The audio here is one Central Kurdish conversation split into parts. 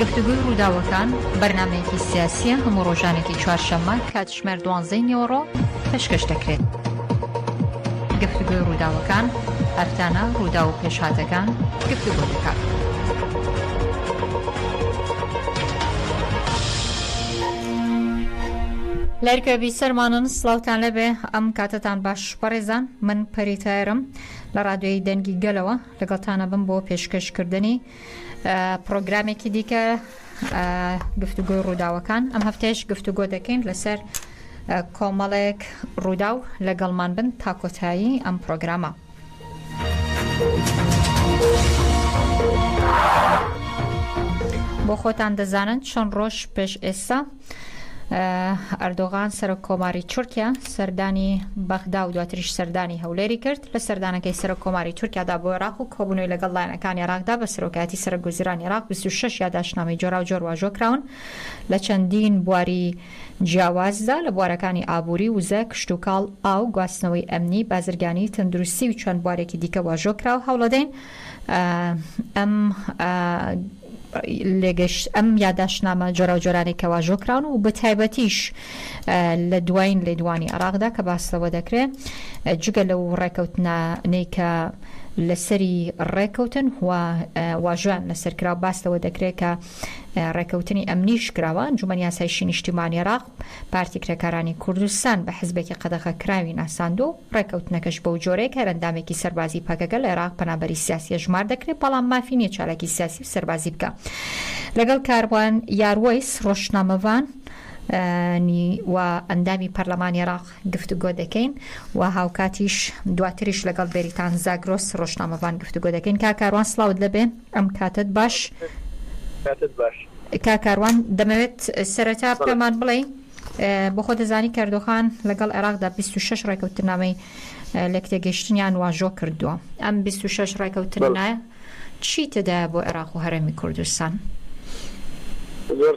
گفتوگۆی ڕووداوەکان، بەرنامەیەکی سیاسییە هەموو ڕۆژانێکی چوارشەممە کاتژمێر دوانزەی نیوەڕۆ پێشکەش دەکرێت. گفتوگۆی ڕووداوەکان هەفتانە ڕوودا و پێشهاتەکان گفتوگۆ دەکات. لایرکە بیسەرمانن سڵاوتان لەبێ ئەم کاتەتان باش بەڕێزان من پەری تایرم لە ڕادوێی دەنگی گەلەوە لەگەڵتانە بم بۆ پێشکەشکردنی پرۆگرامێکی دیکە گفتوگۆی ڕووداوەکان ئەم هەفتەیش گفتوگۆ دەکەین لەسەر کۆمەڵێک ڕوودا و لەگەڵمان بن تا کۆتایی ئەم پرۆگرامە. بۆ خۆتان دەزانن چەند ڕۆژ پێش ئێستا ئەردۆغان سەرۆک کۆماری تورکیا سەردانی بەغدا و دواتریش سەردانی هەولێری کرد لە سەردانەکەی سەرۆک کۆماری تورکیادا بۆ عراق و کۆبوونەوەی لەگەڵ لایەنەکان عێراقدا بە سەرۆکایەتی سەرگوزران عراق 26 یاداشنامەی جۆراو جۆر واژۆ کراون لە چەندین بواری جیاوازدا لە بوارەکانی ئابووری، وزە، کشتوکاڵ، ئاو، گواستنەوەی ئەمنی، بازرگانی، تەندروستی و چەند بوارێکی دیکە واژۆ کرا و هەوڵەدەین ئەم یاداشتنامە جۆراوجۆرانەی کە واژۆ کراون و بەتایبەتیش لە دوایین لێدوانی عێراقدا کە باس لەوە دەکرێ جگە لەو ڕێکەوتنانەی کە لەسەری ڕێکەوتن و واژۆیان لەسەر کرا و باس لەوە دەکرێت کە ڕێکەوتنی ئەمنیش کراوە، ئەنجومەن یاسایشی نیشتیمانی عێراق پارتی کرێکارانی کوردستان بە حزبێکی قەدەغەکراوی ناساندووە و ڕێکەوتنەکەش بەو جۆرەیە کە هەر ئەندامێکی سەربازی پەکەکە لە عێراق پەنابەری سیاسی هەژمار دەکرێت بەڵام مافی نییە چالاکی سیاسی و سەربازی بکا لەگەڵ کاروان یاروەیس ڕۆژنامەڤان و ئەندامی پەرلەمانی عێراق. گفتوگۆ دەکەین و هاوکاتیش دواتریش لەگەڵ بێریتان زاگرۆس ڕۆژنامەڤان گفتوگۆ دەکەین کا کاروان سڵاوت لەبێ ئەم کاتت باش کاتت باش کا کاروان دەمەوێت سەرەتا پێمان بڵێ بۆخۆ دەزانی کەردۆخان لەگەڵ عێراقدا 26 ڕێکەوتنامەی لەکتێگەشتنیان واژۆ کردووە ئەم 26 ڕێکەوتنە چی تێدایە بۆ عێراق و هەرێمی کوردستان زۆر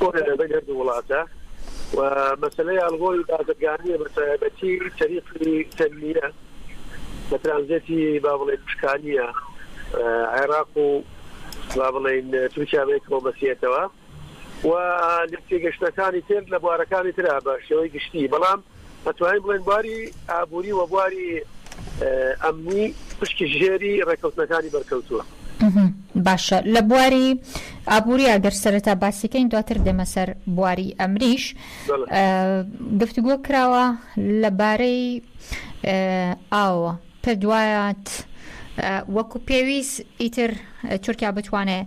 بۆیە لە دەنگ هەردوو وڵاتە و مەسەلەی ئاڵغۆی بازرگانیە بە تایبەتی تەریقی تەنمیە لە ترانزێتی با بڵێ پشکانیە عێراق و با بڵێن تورکیا بێکەوە بەسیێتەوە و لە تێگەشتەکانی تر لە بوارەکانی ترا بە شێوەی گشتی بەڵام ئەتوانین بڵێین بواری ئابووری و بواری ئەمنی پشکی ژێری ڕێکەوتنەکانی بەرکەوتووە. باشە لە بواری ئابووری ئەگەر سەرەتا باسیکەین دواتر دێمە سەر بواری ئەمریش گفتوگۆ کراوە لەبارەی ئاوە پێ دوایات وەکو پێویست ئیتر تورکیا بتوانێت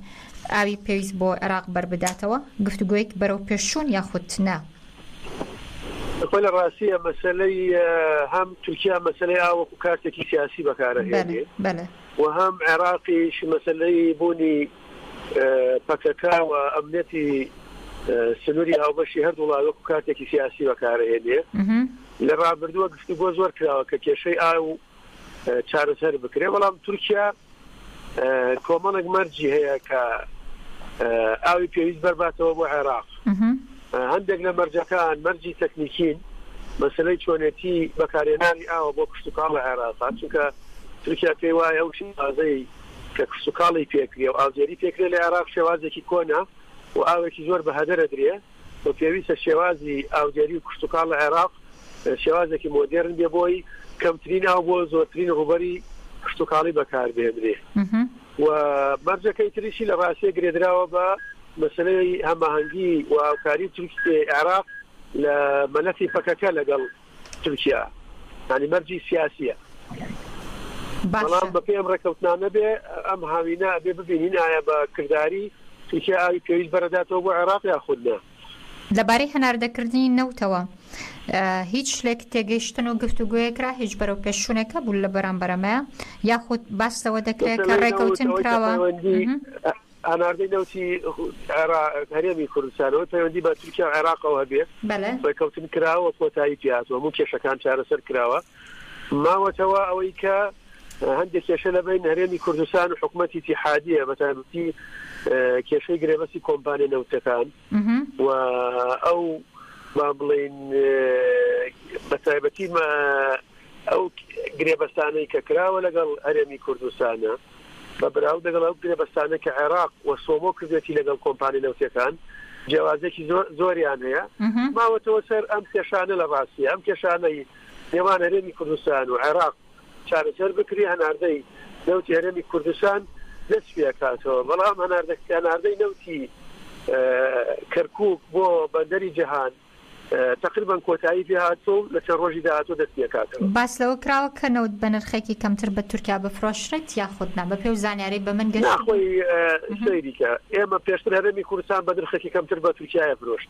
ئاوی پێویست بۆ عێراق بەربداتەوە گفتوگوۆیەک بەرەو پێشوون یاخود نا خۆ لە ڕاستیە مەسەلەی هەم تورکیا مەسەلەی ئاو وەکو کارتێکی سیاسی بەکارەهێنێ و هەم عێراقیش مەسەلەی بوونی پەکەکا و ئەمنەتی سنووری هاوبەشی هەردوو وڵات وەکو کارتێکی سیاسی بەکارەهێنێ لە ڕابردووە گفتوگۆ زۆر کراوە کە کێشەی ئاو چارەسەر بکرێت، بەڵام تورکیا کۆمەڵێک مەرجی هەیە کە ئاوی پێویست بەرباتەوە بۆ عێراق. هەندێک لە مەرجەکان مەرجی تەکنیکین، مەسلەی چۆنێتی بەکارێنانی ئاوە بۆ کشتتوکاڵ لە عێراق چونکە تورکیا پێی وایە ئەو شازەی کە کشتتوکاڵی پێکرێ و ئازێری پێکرێ لە عێراق شێوازێکی کۆنا و ئاوێکی زۆر بە هەدەرە درێ و پێویستە شێوازی ئاودێری و کشتوکاڵ لە عێراق شێوازێکی مۆدێرن بێ بۆی کەمترین ئاو بۆ زۆرترین ڕووبەری کشتوکاڵی بەکاربێنرێ و مەرجەکەی تریشی لە ڕاستیە گرێدراوە بە مەسلەی هەماهەنگی و هاوکاری تورکی عێراق لە مەلەفی پەکەکە لەگەڵ تورکیا یانی مەرجی سیاسیە. بەڵام بە پێی ئەم ڕێکەوتنانە بێ ئەم هاوینە ئەبێ ببینین ئایا بە کرداری تورکیا ئاوی پێویست بەرەداتەوە بۆ عێراق یاخود نا. لەبارەی هەناردەکردنی نەوتەوە هیچ شتێک تێگەیشتن و گفتوگۆیەک را هیچ بەرەو پێش چونێک هەبوو لە بەرامبەر ئەمەیە یاخود باس لەوە دەکرێت کە ڕێکەوتن کراوە؟ هەناردەی نەوتی عێراق هەرێمی کوردستانەوەی پەیوەندی بە تورکیا و عێراقەوە هەبێ ڕێکەوتن کراوە کۆتایی پێاتوە هەموو کێشەکان چارەسەر کراوە ماوەتەوە ئەوەی کە هەندێک کێشە لە بین هەرێمی کوردستان و حکوومەتی تیحادیە بەتابتی کێشەی گرێبەسی کۆمپانیە نەوتەکان و ئەو با بڵێین بە تایبەتی مە ئەو گرێبەستانەی کە کراوە لەگەڵ هەرێمی کوردستانە بە براو دەگەڵ ئەو گرێبەستانە کە عێراق و سۆمۆ کردێتی لەگەڵ کۆمپانی نەوتەکان جیاوازێکی زۆریان هەیە ماوەتەوە سەر ئەم کێشانە لە ڕاستی ئەم کێشانەی نێوان هەرێمی کوردستان و عێراق چارەسەر بکری هەناردەی نەوتی هەرێمی کوردستان دەست پێکاتەوە بەڵام هەناردە هەناردەی نەوتی کەرکک بۆ بەندەری جەهان تقریبان کۆتایی پێهاتۆ لە چەند ڕۆژی داهاتۆ دەست پێکاتەوە. باس لەوە کراوە کە نەوت بە نرخێکی کەمتر بە تورکیا بفرۆشرێت یاخود نا بە پێو زانیاری بە من گەشت؟ ناخۆی سەیریکە ئێمە پێشتر هەرێمی کوردستان بە نرخێکی کەمتر بە تورکایە فرۆشت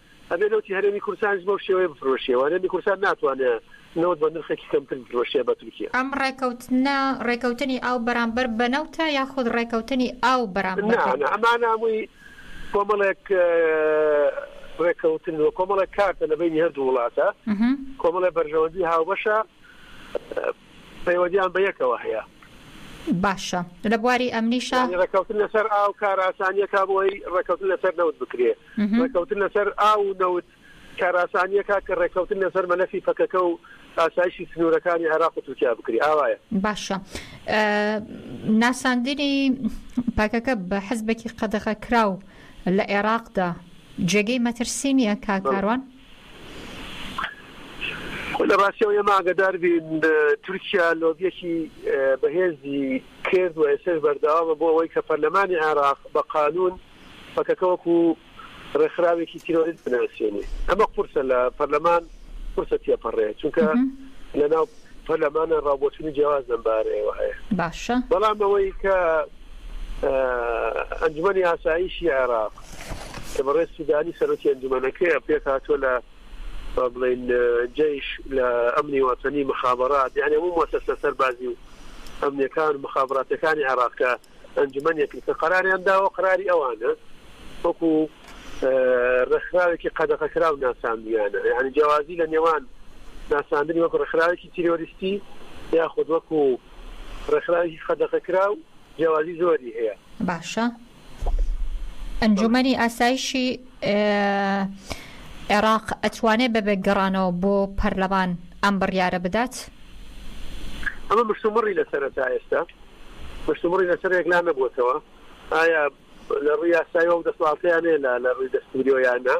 ئەبێ نەوتی هەرێمی کوردستانیش بەو شێوەیە بفرۆشیەوە، هەرێمی کوردستان ناتوانێ نەوت بە نرخێکی کەمتر بفرۆشێ بە تورکیا. ئەم ڕێکەوتنە ڕێکەوتنی ئاو بەرامبەر بە نەوتە یاخود ڕێکەوتنی ئاو بەرامبەر بە. نا نا ئەمانە هەمووی کۆمەڵێک ڕێکەوتن و کۆمەڵێک کارتە لە بەینی هەردوو وڵاتە، کۆمەڵێ بەرژەوەندی هاوبەشە، پەیوەندیان بە یەکەوە هەیە. باشە لە بواری ئەمنیشا؟ یانی ڕێککەوتن لەسەر ئاو کارئاسانییەکە بۆ ئەوەی ڕێککەوتن لەسەر نەوت بکرێ. ڕێککەوتن لەسەر ئاو و نەوت کارئاسانییەکە کە ڕێککەوتن لەسەر مەلەفی پەکەکە و ئاسایشی سنوورەکانی عێراق و تورکیا بکرێ. ئاوایە. باشە ناساندنی پەکەکە بە حزبێکی قەدەغەکراو لە عێراقدا جێگەی مەترسی نییە کاک کاروان؟ لە ڕاستیەوە ئێمە ئاگەدار بین تورکیا لۆبیەکی بەهێزی کرد و ئێستاش بەردەوامە بۆ ئەوەی کە پەرلەمانی عێراق بە قانوون پەکەکە وەکو ڕێکخراوێکی تیرۆریست بناسێنێ. ئەمە قورسە لە پەرلەمان قورسە تێپەڕێ چونکە لەناو پەرلەمانە ڕاوبۆچوونی جیاواز لەم بارەیەوە هەیە. باشە. بەڵام ئەوەی کە ئەنجومەنی ئاسایشی عێراق کە بەڕێز سودانی سەرۆکی ئەنجومەنەکەیە پێکهاتووە لە بڵین جیش لە ئەمنی وەتەنی مخابرات یعنی هەموو مۆسەسە سەربازی و ئەمنیەکان مخابراتەکانی عێراقکە ئەنجومەنێک کە قەراریان داوە قەراری ئەوانە وەکو ڕێکخراوێکی قەدەغەکراو ناساندوویانە، یانی جیاوازی لە نێوان ناساندنی وەکو ڕێکخراوێکی تیرۆریستی یاخود وەکو ڕێکخراوێکی قەدەغەکراو جیاوازی زۆری هەیە. باشە ئەنجومەنی ئاسایشی عێراق ئەتوانێت بە بێ گەڕانەوە بۆ پەرلەمان ئەم بڕیارە بدات؟ ئەمە مشتومڕی لەسەرە تا ئێستا مشتومڕی لەسەر یەکلا نەبووەتەوە، ئایا لە ڕووی یاسایەوە ئەو دەسەڵاتەیان هەیە لە لە ڕووی دەستووریەوە یان نا،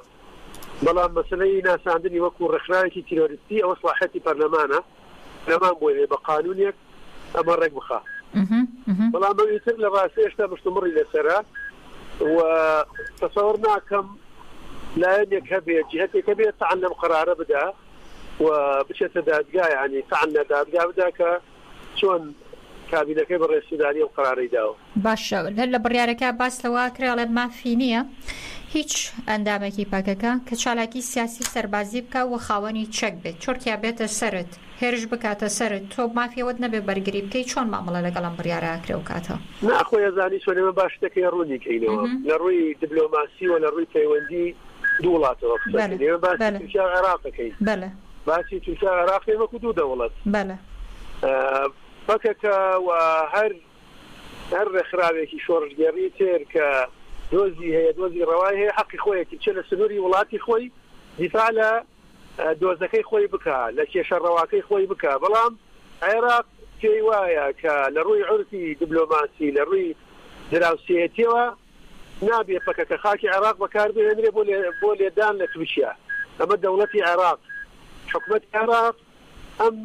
بەڵام مەسەلەی ناساندنی وەکوو ڕێکخراوێکی تیرۆریستی ئەوە سڵاحیەتی پەرلەمانە، پەرلەمان بۆی هەیە بە قانوونێک ئەمە ڕێک بخا. بەڵام ئەوی تر لە ڕاستە هێشتا مشتومڕی لەسەرە و تەسەوەڕ ناکەم لایەنێک هەبێ جیهەتێک هەبێ تەعن لەم قەرارە بدا و بچێتە دادگا یانی تەعن لە دادگا بدا کە چۆن کابینەکەی بەڕێزسوودانی ئەو قەرارەی داوە؟ باشە هەر لە بڕیارەکە باس لەوە کرا ئەڵێ مافی نییە هیچ ئەندامێکی پەکەکە کە چالاکی سیاسی و سەربازی بکا و خاوەنی چەک بێت تورکیا بێتە سەرت هێرش بکاتە سەرت تۆ مافی ئەوەت نەبێ بەرگری بکەی چۆن مامەڵە لەگەڵ ئەم بڕیارە ئەکرێ و کاتە نا خۆی ئەزانی چۆن ئێمە با شتەکەی ڕوونی کەینەوە لە ڕووی دبلۆماسی و لە ڕووی پەیوەندی دوو وڵاتەوە قسە بکەین ئێمە باسی تورکیا و عێراق ئەکەین. باسی تورکیا و عێراق کرد وەکو دوو دەوڵەت. بەلە. پەکەکە و هەر هەر ڕێکخراوێکی شۆڕشگێڕی تر کە دۆزی هەیە، دۆزی ڕەوای هەیە، حەقی خۆیەتی بچێ لە سنووری وڵاتی خۆی دیفاع لە دۆزەکەی خۆی بکا، لە کێشە ڕەواکەی خۆی بکا. بەڵام عێراق پێی وایە کە لە ڕووی عورفی دیبلۆماسی، لە ڕووی دراوسێیەتییەوە، نابێ پەکەکە خاکی عێراق بەکار بهێنرێ بۆ بۆ لێدان لە تورکیا. ئەمە دەوڵەتی عێراق، حکومەتی عێراق ئەم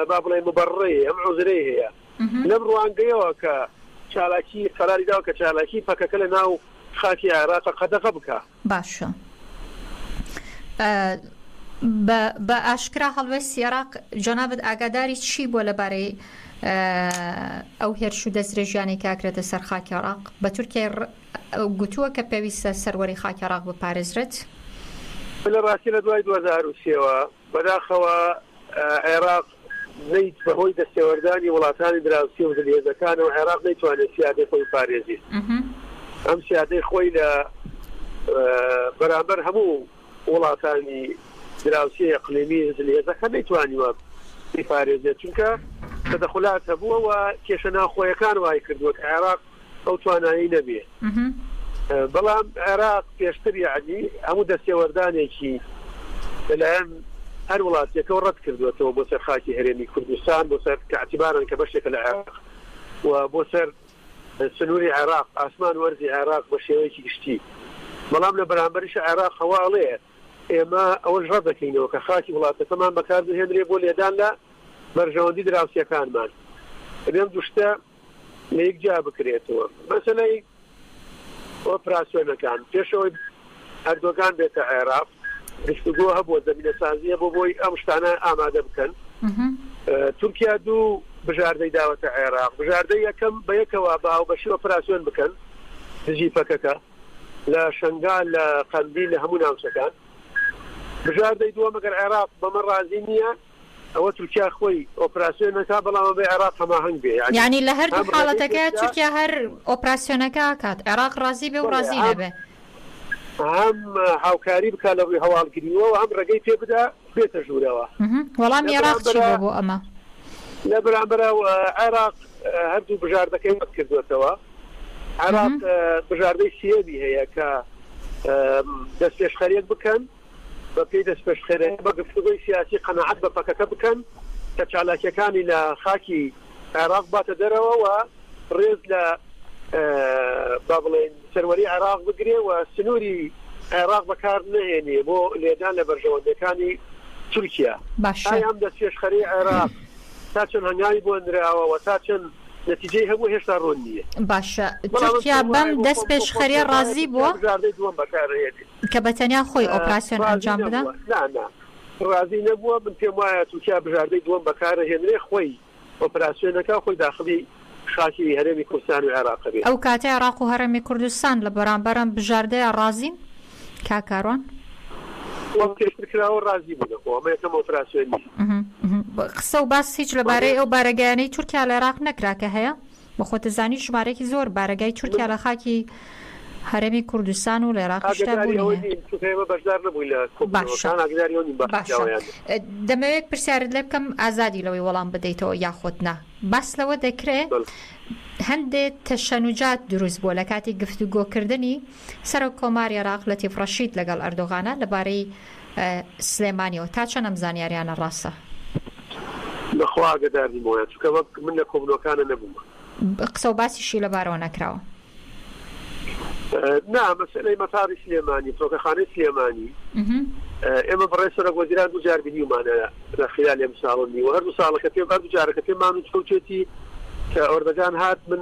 با بڵێین موبەڕەی هەیە، ئەم عوزرەی هەیە. لەم ڕوانگەیەوە کە چالاکی قەراری داوە کە چالاکی پەکەکە لە ناو خاکی عێراق قەدەغە بکا. باشە بە بە ئاشکرا هەڵوێستی عێراق جەنابت ئاگاداری چی بووە لەبارەی ئەو هێرش و دەستدرێژیانەی کە ئەکرێتە سەر خاکی عێراق بە تورکیای گوتووە کە پێویستە سەروەری خاکی عێراق بپارێزرێت؟ لە ڕاستی لە دوای دوو هەزار و سێ وە بەداخەوە عێراق نەیت بەهۆی دەستێوەردانی وڵاتانی دراوسی و زلهێزەکانەوە عێراق نەیتوانێت سیادەی خۆی بپارێزیت ئەم سیادەی خۆی لە بەرامبەر هەموو وڵاتانی دراوسی ئەقلیمی زلهێزەکە نەیتوانیوە بیپارێزێت چونکە تەدەخلات هەبووە و کێشە ناوخۆیەکان وای کردووە کە عێراق ئەو توانایەی نەبێ بەڵام عێراق پێشتر یعنی هەموو دەستێوەردانێکی لەلایەن هەر وڵاتێکەوە ڕەت کردوێتەوە بۆ سەر خاکی هەرێمی کوردستان بۆ سەر کەعتیبارن کە بەشێکە لە عێراق و بۆ سەر سنووری عێراق ئاسمان وەرزی عێراق بە شێوەیەکی گشتی بەڵام لە بەرامبەریش عێراق هەواڵێ ئێمە ئەوەش ڕەت دەکەینەوە کە خاکی وڵاتەکەمان بەکار بهێنرێ بۆ لێدان لە بەرژەوەندی دراوسەکانمان ئەم دوشتە لە یەک جیا بکرێتەوە مەسەلەی ئۆپراسیۆنەکان پێش ئەوەی ئەردۆگان بێتە عێراق گفتوگۆ هەبووە زمینە سازیە بۆ بۆی ئەم شتانە ئامادە بکەن تورکیا دوو بژاردەی داوەتە عێراق بژاردە یەکەم بە یەکەوە بە هاوبەشی ئۆپراسیۆن بکەن دژی پەکەکە لە شنگا لە قەندی لە هەموو ناوچەکان بژاردەی دووە مەگەر عێراق بەمە ڕازی نییە ئەوە تورکیا خۆی ئۆپراسیۆن نەکات بەڵام ئەبێ عێراق هەماهەنگ بێ یانی یانی لە هەردوو هەم حاڵەتەکە ڕێگەی بکا تورکیا هەر ئۆپراسیۆنەکە ئەکات عێراق ڕازی بێ و بەڵێ ڕازی هەم نەبێ هەم هاوکاری بکا لە ڕووی هەواڵگریەوە و هەم ڕێگەی پێ بدا بێتە ژوورەوە مهم. وەڵامی لە عێراق چی بەرامبەرا بووە بۆ ئەمە؟ لە بەرامبەرا و عێراق ە، هەردوو بژاردەکەی ڕەت کردووەتەوە عێراق مهم. ە، بژاردەی سێیەمی هەیە کە ە، م، دەستپێشخەریەک بکەن. بە پێی دەستپێشخەرێتی بە گفتوگۆی سیاسی قەناعەت بە پەکەکە بکەن کە چالاکییەکانی لە خاکی عێراق بباتە دەرەوە و ڕێز لە با بڵێین سەروەری عێراق بگرێ و سنووری عێراق بەکار نەهێنێ بۆ لێدان لە بەرژەوەندییەکانی تورکیا. باشە. ئایا ئەم دەستپێشخەرەی عێراق تا چەند هەنگاوی بۆ نراوە و تا چەند نەتیجەی هەبوو هێشتا ڕوون نییە. باشە. تورکیا بەم دەستپێشخەرییە ڕازی بووە؟ بژاردەی دووەم بەکار ئەهێنێ. کە بە تەنیا خۆی ئۆپراسیۆن ئەنجام بدا؟ نا نا ڕازی نەبووە، من پێم وایە تورکیا بژاردەی دووەم بەکارەهێنرێ خۆی ئۆپراسیۆنەکە خۆی داخلی خاکی هەرێمی کوردستان و عێراق بێ. ئەو کاتە عێراق و هەرێمی کوردستان لە بەرامبەر ئەم بژاردەیە ڕازین؟ کاک کاروان. وەک پێشتر کراوە ڕازی بوونە خۆ ئەمە یەکەم ئۆپراسیۆن نییە. قسە و باس هیچ لەبارەی ئەو بارەگایانەی تورکیا لە عێراق نەکرا کە هەیە؟ بەخۆتزانی ژمارەکی زۆر بارەگای تورکیا لە خاکی هەرێمی کوردستان و لە عێراقیشدا بوونی هەیە. دەمەوێت پرسیارت لێ بکەم ئازادی لەوەی وەڵام بدەیتەوە یاخۆت نا. باس لەوە دەکرێ هەندێ تەشەنوجات دروست بووە لە کاتی گفتوگۆکردنی سەرۆک کۆماری عێراق لەتیف ڕەشید لەگەڵ ئەردۆغانە لەبارەی سلێمانیەوە، تا چەند ئەم زانیاریانە ڕاستە؟ بەخوا ئاگەدار نیم وەیان چونکە وەک من لە کۆبنەوەکانە نەبوومە. قسە و باسیشی لەبارەوە نەکراوە؟ نا، مەسەلەی مەتاڕی سلێمانی، فڕۆکەخانەی سلێمانی ئێمە بەڕێز سەرۆک وەزیران دوو جار بینیومانە لە خیلالی ئەم ساڵ و نیوە هەردوو ساڵەکە پێ هەردوو جارەکە پێمان وتوێتی کە ئۆردەگان هات من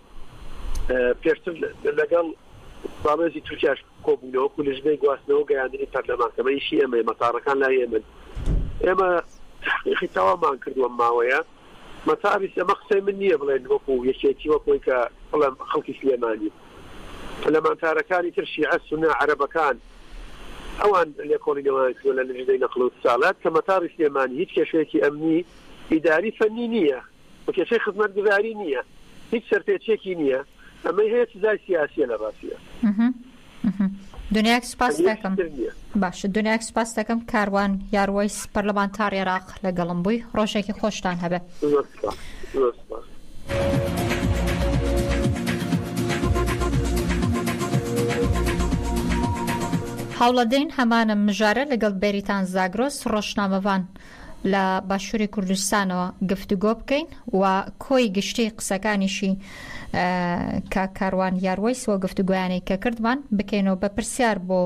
پێشتر لەگەڵ باڵوێزی تورکیاش کۆبوونەوە و لژنەی گواستنەوە گەیاندنی پەرلەمان کەمە ئیشی ئەمەی مەتارەکان لا ئێمن ئێمە تحقیقی تەوامان کردووە ماوەیە مەتابیس ئەمە قسەی من نییە بڵێن وەکو یەکێتی وەکۆی کە بڵم خەڵکی سلێمانی پەلەمانتارەکانی تر شیعە سنە عەرەبەکان ئەوان لێکۆڵینەوەیان کردوە لە لژنەی نەقل و ساڵات کە مەتاری سلێمانی هیچ کێشەیەکی ئەمنی ئیداری فەنی نییە و کێشەی خزمەتگوزاری نییە هیچ سەرپێچیەکی نییە ئەمەی هەیە سزای سیاسیە لە ڕاستیدا. دنیاک سوپاس دەکەم باش دنیاک سوپاس دەکەم کاروان یاروەیس پەرلەمانتار عێراق لەگەڵم بووی ڕۆژێکی خۆشتان هەبێ. هاوڵەدەین هەمانە مژارە لەگەڵ بەریتان زاگرۆس ڕۆژنامەڤان. لە باشوری کوردستانەوە گفتوگۆ بکەین و کۆی گشتی قسەکانیشی کاک کاروان یاروەیس و گفتوگۆیانەی کە کردمان بکەینەوە بە پرسیار بۆ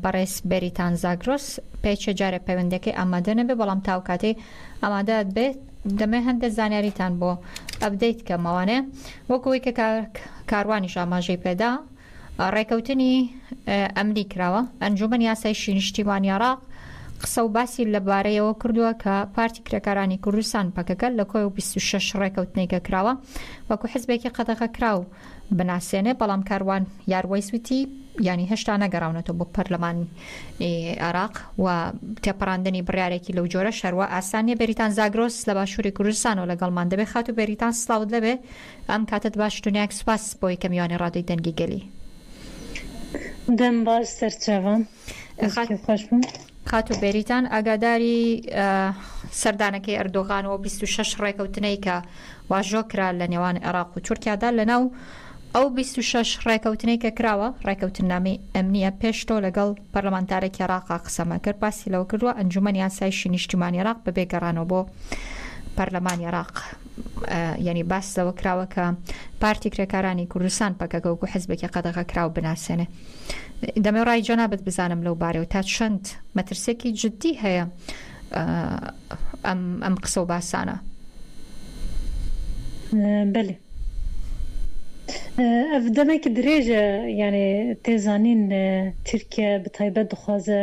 بەڕێز بێریتان زاگرۆس پێچە جارێ پەیوەندەکەی ئامادە نەبێ بەڵام تاو کاتەی ئامادەت بێت دەمێ هەندێک زانیاریتان بۆ ئەبدەیت کەمەوانێ وەکەوەی کە کاروانیش ئاماژەی پێدا ڕێکەوتنی ئەمنی کراوە. ئەنجوومەنی ئاسایشی نیشتیمانی عێراق قسە و باسی لەبارەیەوە کردووە کە پارتی کرێکارانی کوردستان، پەکەکە، لە کۆی بیست و شەش ڕێکەوتنەی کە کراوە وەکو حزبێکی قەدەغەکراو بناسێنێ، بەڵام کاروان یاروەیس وتی، یانی هێشتا نەگەڕاونەتەوە بۆ پەرلەمانی عێراق و تێپەڕاندنی بڕیارێکی لەو جۆرەش هەروا ئاسان نیە، بێریتان زاگرۆس لە باشووری کوردستانەوە لەگەڵمان دەبێ، خاتوو بێریتان سڵاوت لێبێ، ئەم کاتەت باش دونیاک سوپاس بۆ یەکەم یوانەی ڕادیۆی دەنگی گەلی. دەم باش سەرچاوە دەستتان خۆش بم. خاتوو بێریتان ئاگاداری سەردانەکەی ئەردۆغان و بیست و شەش ڕێکەوتنەی کە واژۆ کرا لە نێوان عێراق و تورکیادا لەناو ئەو بیست و شەش ڕێکەوتنەی کە کراوە ڕێکەوتننامەی ئەمنیە پێش تۆ لەگەڵ پەرلەمانتارێکی عێراقا قسەمان کرد باسی لەوە کردووە ئەنجوومەنی ئاسایشی نیشتیمانی عێراق بەبێ گەڕانەوە بۆ پەرلەمانی عێراق یانی باس لەوە کراوە کە پارتی کرێکارانی کوردستان پەکەکە وەکو حزبێکی قەدەغە کراو بناسێنێ دەمێ ڕای جەنابەت بزانم لەو بارەوە تا چەند مەترسێکی جددی هەیە ئەم ئەم قسە و باسانە بەێ ئەف دەمێکی درێژە یانێ تێزانین ترکیە بە تایبەت دخوازە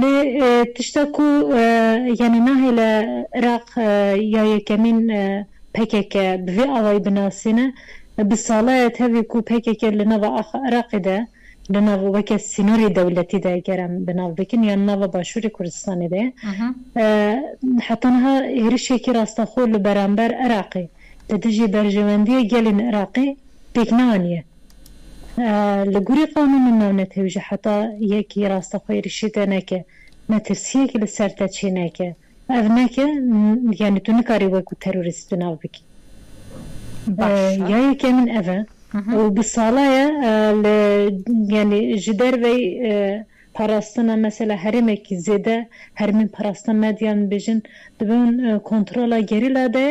لێ تشتە کو یانێ ناهێ لە عراق یا یەکەمین پەکەکە بە ڤێ ئاوایی بناسینە، بە ساڵەێ تەێ کو پەکەکە لە ناوا ئاخ عراقی دە لە ناوا وەکێ سینۆری دەولەتی دە گەرم بە ناو بکن یان ناوا باشووری کوردستانی دە حەتا نها هێرشێکی راستەخۆ لە بەرامبەر عراقی لە دژی بەرژەوەندیێ گەلین عراقی پێک نانیە. لە گوری قەومی من ناو نەتەویژە حەتا یەکی ڕاستەخۆی ریشی تێ نەکێ مەترسیەکی لە سەر تە چی نەکێ ئەڤ نەکێ یانی تو نکاری وەک و تەروریست تو ناو بکی باشە یا یەکێ من ئەڤە و بی ساڵایە لە یانی ژی دەرڤەی پاراستنە مەسەلە هەرێمێکی زێدە هەرمین پاراستنە مەدیان بیژن دبن کۆنتڕۆڵە گەریلا دەێ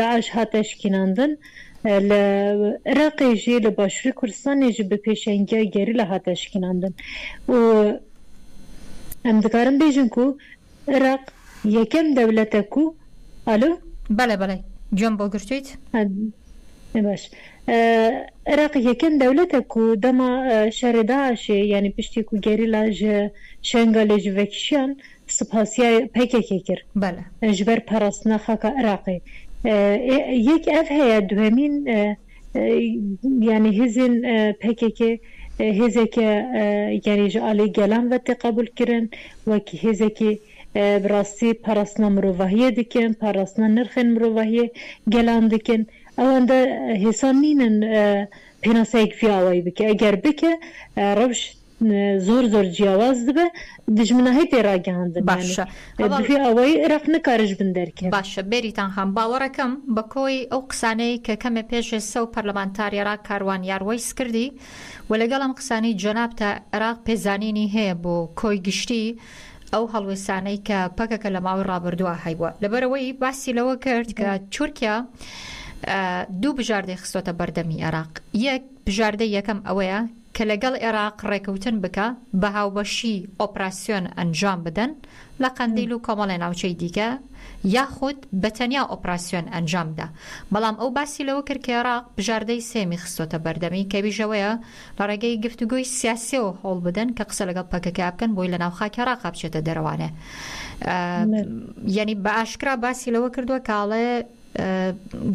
داعش هاتە شکیناندن لە عراقێ ژێ لە باشوری کوردستانێ ژ بە پێشەنگیای گەریلا هاتە شکیناندن و ئەم دکارم بێژم کو عراق یەکەم دەولەتە کو ئەلو؟ بەلێ بەلێ گوێم بۆ گرتویت. باش عراق یەکەم دەولەتە کو دەما شەرێ داعشێ یانی پشتی کو گەریلا ژ شەنگالێ ژ ڤەکیشیان سپاسیای پەکەکەی کر بەلە. ژ بەر پەڕستنە خاکە عراقی. ئێ یەک ئەڤ هەیە دوهەمین یانی هێزێن پەکەکە هێزێکە یانی ژە ئالی گەلان ڤەتێ قەبول کرن وەک هێزێکی بڕاستی پەڕستنە مرۆڤاهیە دکن پەڕستنە نرخێن مرۆڤاهیە گەلان دکن ئەوەندە هێسان نینن پێناسەیگ ڤی ئاوایی بکە ئەگەر بکە ڕەوشت زۆر زۆر جیاواز دبە دژمناهی پێ ڕاگەهاندن باشە یانێ هەڤاڵ بڤی ئەوەی ئرەق نکارژ بن دەرکەن. باشە بێریتان خان باوەڕەکەم بە کۆی ئەو قسانەی کە کەمێ پێش ئسە و پەرلەمانتاریەرا کاروان یاروەیس کردی و لەگەڵ ئەم قسانەی جەنابتا ئراق پێزانینی هەیە بۆ کۆی گشتی ئەو هەڵوێسانەی کە پەکەکە لە ماوەی ڕابردوا هەیبوە لە بەرئەوەی باسی لەوە کرد کە تورکیا دوو بژاردەی خستۆتە بەردەمی ئراق یەک بژاردەی یەکەم ئەوەیە کە لەگەڵ ئێراق ڕێکەوتن بکا بە هاوبەشی ئۆپراسیۆن ئەنجام بدەن لە قەندیل و کۆمەڵێ ناوچەی دیکە یاخود بە تەنیا ئۆپراسیۆن ئەنجام بدا بەڵام ئەو باسی لەوە کرد کە ئێراق بژاردەی سێمی خستۆتە بەردەمی کە ئیش ئەوەیە لە ڕێگەی گفتوگۆی سیاسیەوە هەوڵ بدەن کە قسە لەگەڵ پەکەکە بکەن بۆی لە ناو خاکی ئێراقا بچێتە دەرەوانێ یانی بە ئاشکرا باسی لەوە کردوە کە ئەڵێ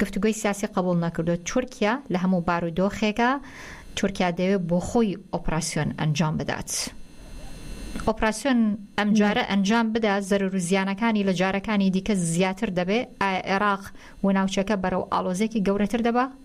گفتوگۆی سیاسی قبوڵ نەکردووە تورکیا لە هەموو بارودۆخێکا تورکیا دەوێت بۆ خۆی ئۆپراسیۆن ئەنجام بدات ئۆپراسیۆن ئەمجارە ئەنجام بدا زەرر و زیانەکانی لە جارەکانی دیکە زیاتر دەبێت ئایا عێراق و ناوچەکە بەرەو ئالۆزێکی گەورەتر دەبە؟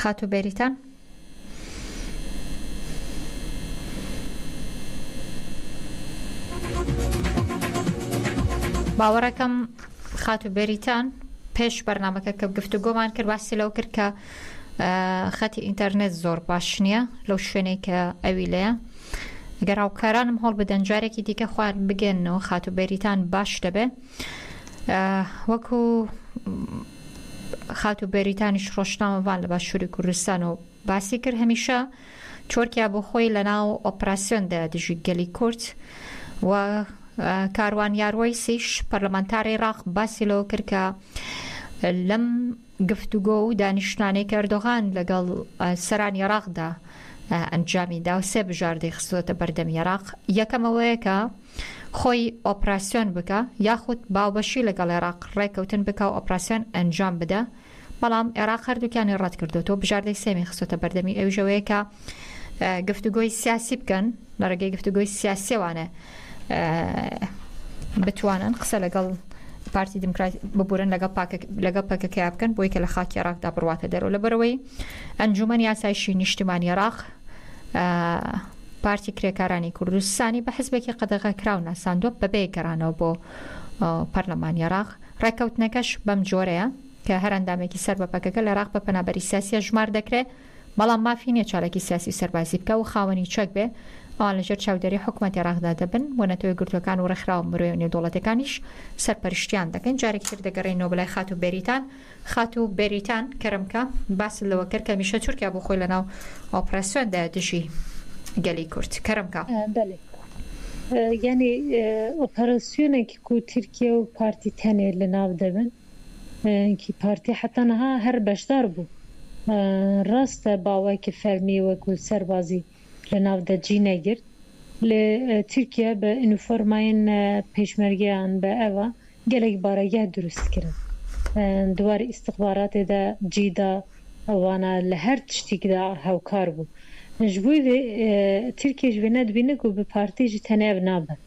خاتوو بێریتان. باوەڕەکەم خاتوو بێریتان پێش بەرنمەکە کە گفتوگۆمان کرد باسی لەو کرد کە خەتی ئینتەرنێت زۆر باش نییە لەو شوێنێک کە ئەوی لەیە گەر هاوکارانم هەڵ بدەن جارێکی دیکە خوار بگەنەوە خاتو بەریتان باش دەبێ وەکو خاتوو بێریتانیش ڕۆژنامەڤان لە باشووری کوردستانەوە باسی کرد، هەمیشە تورکیا بۆ خۆی لەناو ئۆپراسیۆندایە دژی گەلی کورد و کاروان یاروەیسیش پەرلەمانتاری عێراق باسی لەوە کرد کە لەم گفتوگۆ و دانیشتنانەی کە ئەردۆغان لەگەڵ سەرانی عێراقدا ئەنجامی دا و سێ بژاردەی خستووەتە بەردەمی عێراق، یەکەم ئەوەیە کە، خۆی ئۆپراسیۆن بکا یاخود باوبەشی لەگەڵ ئێراق ڕێککەوتن بکا و ئۆپراسیۆن ئەنجام بدا بەڵام ئێراق هەردووکیانی ڕەت کردۆتەوە بژاردەی سێمی خستۆتە بەردەمی ئەویش ئەوەیە کە گفتوگۆی سیاسی بکەن لە ڕێگەی گفتوگۆی سیاسیەوانە بتوانن قسە لەگەڵ پارتی دموکرات ببورن لەگەڵ لەگەڵ پەکەکەیا بکەن بۆی کە لە خاکی ڕاکدا بڕاتە دەرەوە لە بەرەوەی ئەنجومەنی یاسایشی نیشتمانی ڕاق پارتی کرێکارانی کوردستانی بە حزبێکی قەدەغەکراو ناساندووە بەبێ گەڕانەوە بۆ پەرلەمانی عراق ڕێککەوتنەکەش بەم جۆرەیە کە هەر ئەندامێکی سەر بە پەکەکە لە عراق بە پەنابەری سیاسیە ژمار دەکرێت بەڵام مافی نیە چارێکی سیاسی سەربازی بکە و خاوەنی چەک بێ ئەوان لەژێر چاودێری حکوومەت عێراقدا دەبن بۆ نەتەوەی گرتوەکان و ڕێکخراوە مرۆیە نێودوڵەتەکانیش سەرپەرشتیان دەکەن جارێکتر دەگەڕێنەوە بەلای خات و بەریتان خاتوو بێریتان کەرەمکە باست لەوە کرد کە هەمیشە تورکیا بۆ خۆی لە ناو ئۆپراسیۆن دایە دژی گەلی کورد. کەرەمکە. بەلی یانی ئۆپەراسیۆنێکی کو تورکیا و پارتی تەنێ لە ناو دەبن کی پارتی حەتا نها هەر بەشدار بوو راستە باوەکی فەرمی وەکوو سەربازی لەناو دەجی نەگرت ل تورکیا بە ئنوفۆرماین پێشمەرگەیان بە ئەوە گەلەک بارەگا دروست کرن دوار ئیستخباراتێ دا جی دا وانا لە هەر تشتیک دا هەوکار بوو ژ بوی ڤێ تورکیش ڤێ نەدبینگ و بە پارتی ژ تەنێڤ نابن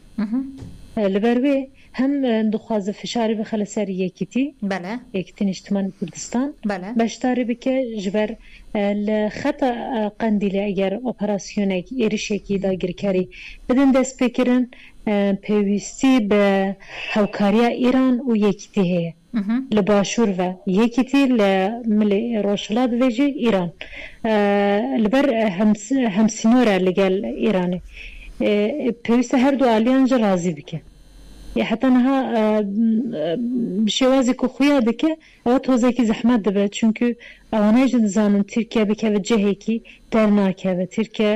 لە بەر وێ هەم دخوازە فشاری بخە لەسەر یەکیتی بەلە. یەکیتی نیشتمانی کوردستان بەلە. بەشداری بکە ژبەر لە خەتە قەندیلی ئەگەر ئۆپەراسیۆنێک ئێرشێکی داگیرکەری بدن دەسپیکرن پێویستی بە هەوکاریا ئیران و یەکیتی هەیە. لە باشوور ڤە یەکیتی لە ملی ڕۆژهڵات ڤێژی ئیران لە بەر هەمسنۆرە لەگەل ئیرانێ پێویستە هەردوو ئالیان جە ڕازی بکێ یە حەتا نها بە شێوازێ کە خویا دکێ ئەوە تۆزێکی زەحمەت دەبێت چونکو ئەوانایش دزانن ترکیە بکێ بە جەهێکی دەرناکەوێ ترکیە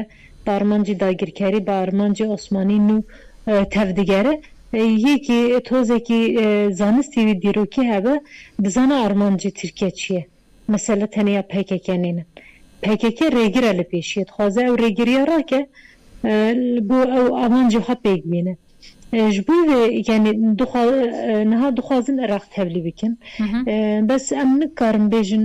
بارمانجی داگیرکەری بارمانجی عوسمانی نو تەڤ دگەرێ یەکی تۆزێکی زانستی وی دیرۆکی هەبێ بزانە ئارمانجی ترکیە چیە مەسەلە تەنیا پەیکەکە نینن پەیکەکە رێگرە لە پێشیە دخوازێ ئەو رێگریە راکێ بۆ ئەو ئامانجی خۆ پێک بینێ ژ بۆ وێ یانی دخوا نها دخوازن ئێراق تەڤلی بکەن بەس ئەم نکارم بێژن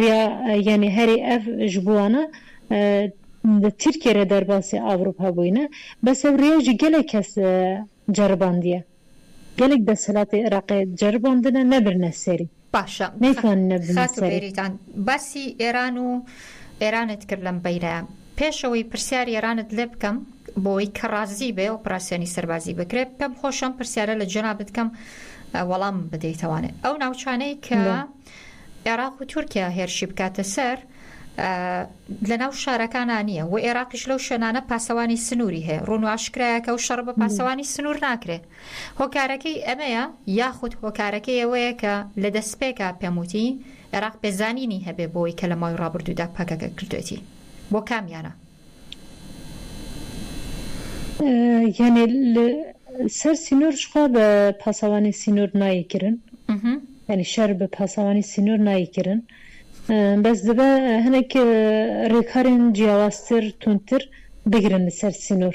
ریا یەنی هەرێ ئەڤ ژ بوانە دە ترکیە رە دەرباسێ ئاوروپا بوینە، بەس ئەو ریا ژی گەلێک کەس جەرباندیە. گەلێک دەسەلاتێ ئراقێ جەرباندنە نەبرنە سەری. باشە نەیتواننە بنە خاتو سەری. بێریتان باسی ئێران و ئێرانت کرد لەم بەیرەیە. پێش ئەوەی پرسیاری ئێرانت لێ بکەم بۆی کە ڕازی بێ ئۆپراسیۆنی سەربازی بکرێت پێم خۆش ئەم پرسیارە لە جەنابت کەم وەڵام بدەیتەوانێ ئەو ناوچانەی کە عێراق و تورکیا هێرشی بکاتە سەر لە ناو شارەکانە نییە و عێراقیش لەو شوێنانە پاسەوانی سنووری هەیە ڕوونواشکرایە کە و شەڕ بە پاسەوانی سنوور ناکرێت هۆکارەکەی ئەمەیە یاخود هۆکارەکەی ئەوەیە کە لە دەسپێکا پێم وتی عێراق پێزانینی هەبێ بەوەی کە لە ماوەی ڕابردوودا پەکەکە کردوێتی بۆ کامیانە؟ یانێ سەر سینۆر شخوا بە پاسەوانی سینۆر نای کرن یعنی شەر بە پاسەوانی سینۆر نای کرن بەس دەبە هەنێک ڕێکارێن جیاوازتر تونتر بگرن لەسەر سینۆر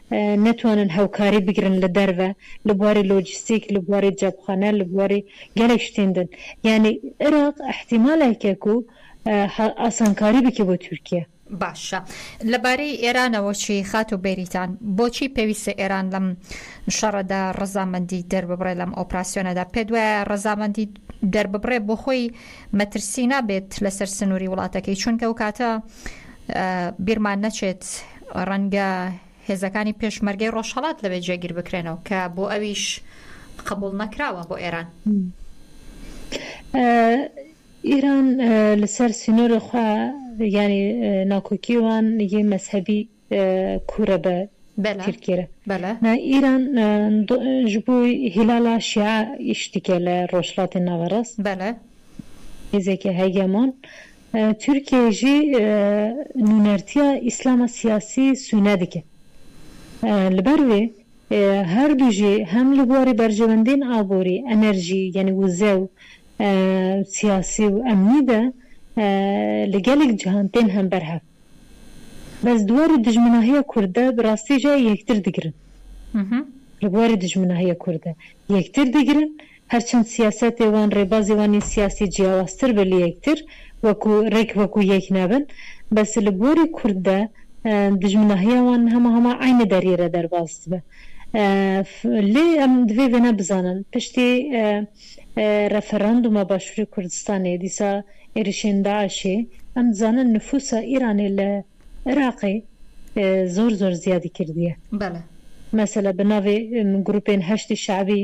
نەتوانن هاوکاری بگرن لە دەرەوە لە بواری لۆجستیک لە بواری جەبخانە لە بواری گەلێک شتین دن یانی عراق ئیحتیمالە کێک و ئاسانکاری بکی بۆ تورکیە. باشە لە بارەی ئێرانەوە چی خاتو بێریتان بۆچی پێویستە ئێران لەم شەڕەدا ڕەزامەندی دەرببڕێ لەم ئۆپراسیۆنەدا پێت وایە ڕەزامەندی دەرببڕێ بۆ خۆی مەترسی نابێت لەسەر سنوری وڵاتەکەی چونکە ئەو کاتە بیرمان نەچێت ڕەنگە هێزەکانی پێشمەرگەی ڕۆژهەڵات لەوێ جێگیر بکرێنەوە، کە بۆ ئەویش قبوڵ نەکراوە بۆ ئێران. ئیران لە سەر سینۆرە خوا یانی ناکۆکی وان یێ مەزهەبی کوورە بە ترکیرە. نا ئیران ژ بۆ هیلالا شیعە ئیش دیکێ لە ڕۆژهڵاتی ناوەڕاست. هێزێکی هەگێمۆن. تورکیەیژی نونەرتیا ئیسلامە سیاسی سونە دکێ. لبەر وی هەردوژی هەم لە بواری بەرژەوەندین ئابووری، ئەنەرژی یەنی وزە و سیاسی و ئەمنی دە لە گەلیک جهان تێن هەم بەر هەڤ. بەس دوار دژمناهیە کوردە بە راستیژە یەکتر دگرن. لە بواری دژمناهیە کوردە یەکتر دگرن. هەرچەند سیاسەتێ وان ڕێبازێ وانی سیاسی جیاوازتر بە لەیەکتر وەکو ڕێک وەکو یەک نابن بەس لە بواری کورد دە دوژمناهیا وان هەما هەما عەینە دەریرە دەربازت بە ف لێ ئەم دڤێ ڤێنە بزانن پشتێ ڕێفەراندومە باشوری کوردستانێ دیسا ئێریشێن داعشێ ئەم دزانن نفوسە ئیرانێ لە ئراقێ زۆر زۆر زیادی کردیە بەلە. مەسەلە بە ناڤێ گروپێن هەشدی شەعبی.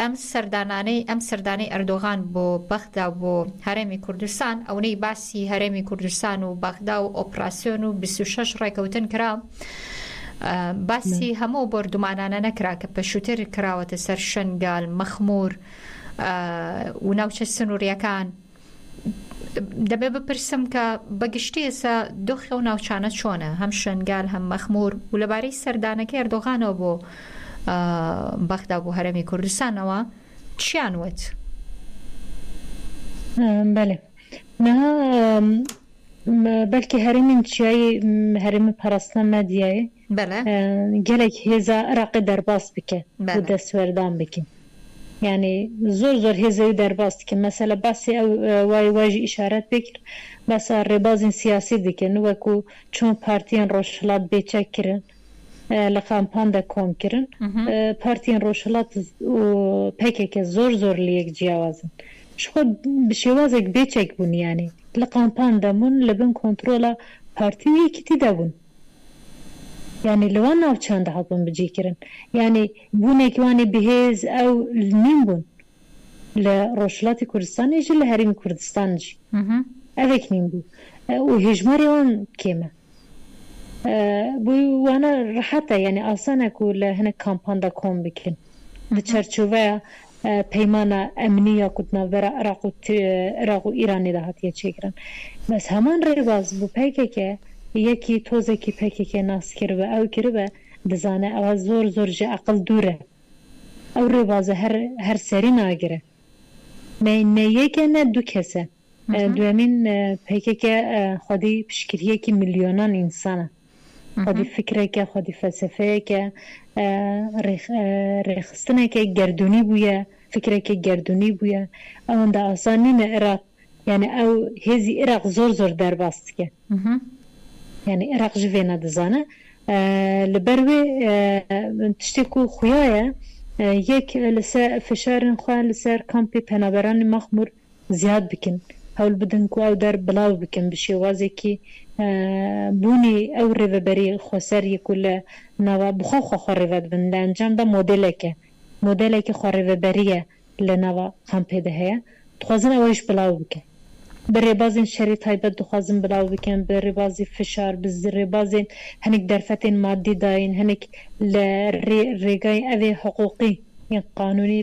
ئەم سەردانانەی ئەم سەردانەی ئەردۆغان بۆ بەغدا و بۆ هەرێمی کوردستان ئەونەی باسی هەرێمی کوردستان و بەغدا و ئۆپراسیۆن و بیست و شەش ڕێکەوتن کرا باسی هەموو بۆردومانانە نەکرا کە پێشووتر کراوەتە سەر شەنگال مەخمور و ناوچە سنووریەکان. دەبێت بپرسم کە بە گشتی ئێستا دۆخی ئەو ناوچانە چۆنە هەم شنگال هەم مەخمور و لەبارەی سەردانەکە ئەردۆغانەوە بۆ بەغدا بۆ هەرمی کوردستانەوە چیان وت بەێ بەلکی هەرمی چیایی هەرمی پەرستە مەدیایی بەلە. گەلەک هێزا عراقی دەرباس بکە و دەسوەردان بکە یانی زۆر زۆر هێزەوی دەرباس دکە مەسەلە باسی ئەو وای وایژی ئیشارەت پێ کرد باسە رێبازین سیاسی دکن وەکو چۆن پارتیەن رۆژهڵات بێچەک کرن لە قامپاندا کۆم کرن پارتیەن رۆژهڵات و پەکەکە زۆر زۆر لەیەک جیاوازن شخۆ بشێوازێک بێچەک بوون یانی لە قامپان دەمون لە بن کۆنترۆڵە پارتی و یەکیتی دەبوون. یانی لەوان ناوچاندا هەڵبن بجی کرن یانی بونێکی وانی بهێز ئەو نیم بون لە ڕۆژهلاتی کوردستان ئیژی لە هەریمی کوردستان جی ئەوێک نیم بو و هێژماری وان کێمە بوی وانە ڕەحەتە یانی ئاسانە کو لە هەنە کامپاندا کۆم بکرن. لە چەرچوەیا پەیمانە ئەمنی یاخود ناوبرا عراق و عراق و ئیرانی دا هاتیە چێکران بەس هەمان رێباز بو پەکەکە یەکی تۆزەکی پەکەکە ناس کربا ئەو کربا دزانە ئەوە زۆر زۆر جە ئەقل دورە ئەو رێبازە هەر هەر سەری ناگرە نە نە یەکە نە دو کەسە دوێمین پەکەکە خودی پشکریەکی ملیۆنان ئینسانە خودی فیکرێکە، خودی فەلسەفەیەکە، رێکخستنێکی گەردوونی بوویە، فیکرێکی گەردوونی بوویە، ئەوەندە ئاسان نینە ئێراق، یانی ئەو هێزی ئێراق زۆر زۆر دەرباز تکە. یانی ئێراق ژ ڤێنە دزانە. لەبەر وێ تشتێک و خویایە یەک لەسەر فشارن خوان لەسەر کامپی پەنابەرانی مەخمور زیاد بکن هەول بدن کو ئەو دەر بلاو بکن بە شێوازێکی بونی ئەو رێڤەبەری خۆسەر یە کو لە ناوا بخۆ خۆ خۆ رێڤەت بن لە ئەنجام دا مۆدێلێکێ مۆدێلێکی خۆ رێڤەبەریە لە ناوا خان پێدە هەیە دخوازن ئەوەیش بلاو بکن بە رێبازێن شەری تایبەت دخوازن بلاو بکن بە رێبازی فشار بە رێبازێن هەنێک دەرفەتێن مادی داین هەنێک لە رێ رێگای ئەێ حقوقی یان قانونی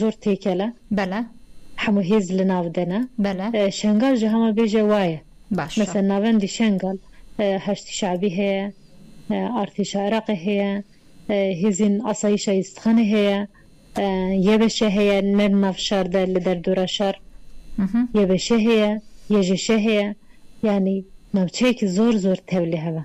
زۆر تێکەلە. بەلە. حەموو هێز لەناو دەنا. بەلە. شەنگال جا هەمە بێژە وایە. باشە. مەسەن ناوەندی شەنگال هەشدی شەعبی هەیە، ئارتێشە عراقێ هەیە، هێزین ئاسایشە ئیستخانێ هەیە، یەبەشە هەیە نەر ناڤ شاردە لە دەردورا شار یەبەشە هەیە، یەژەشە هەیە یانی ناوچەیەکی زۆر زۆر تەولێ هەمە.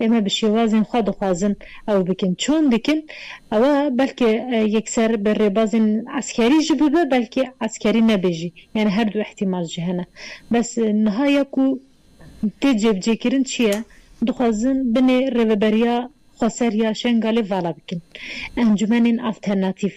ئێمە بشێوازین خوا دەخوازن ئەوە بکن چۆن بکن ئەوە بەلکێ یەکسەر بە رێبازین عەسکەری ژی ببە بەلکێ عەسکەری نەبێ ژی یانێ هەردوو ئیحتیمال ژی هەنە بەس نها یەکو تێ جێبجێ کرن چیە دخوازن بنێ رێڤەبەریا خوەسەریا شێنگالێ ڤالا بکن ئەنجومەنین ئالتەرناتیڤ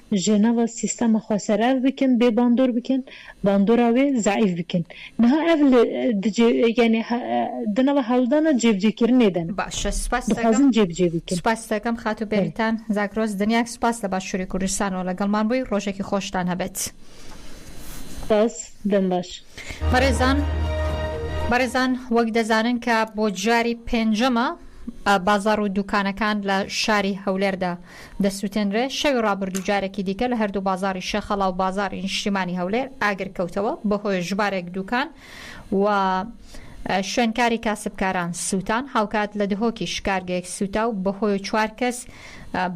ژەنەڤە سیستەمە خوا سەر ئەڤ بکن بێ باندۆر بکن باندۆرا وێ زەعیف بکن نها ئەڤ لە دجێ یانێ هە دنەڤە هەولدانە جێبجێ کرنێ دەنە باشە سوپاست دەکەم دخوازن جێبجێ بکن سوپاست دەکەم خاتو بەرێ بێریتان زاگرۆس دنیاک سوپاس لە باشوری کوردستانەوە لەگەڵمان بووی ڕۆژێکی خۆشتان هەبێت. سپاس دەم باش. بەڕێزان بەڕێزان وەک دەزانن کە بۆ جاری پێنجەمە بازاڕ و دوکانەکان لە شاری هەولێردا دەسوتێنرێ شەوی ڕابردوو جارێکی دیکە لە هەردوو بازاڕی شێخەڵا و بازاڕی نیشتیمانی هەولێر ئاگر کەوتەوە، بەهۆیەش ژمارێک دووکان و شوێنکاری کاسبکاران سووتان، هاوکات لە دهۆکیش کارگەیەک سووتا و بەهۆی و چوار کەس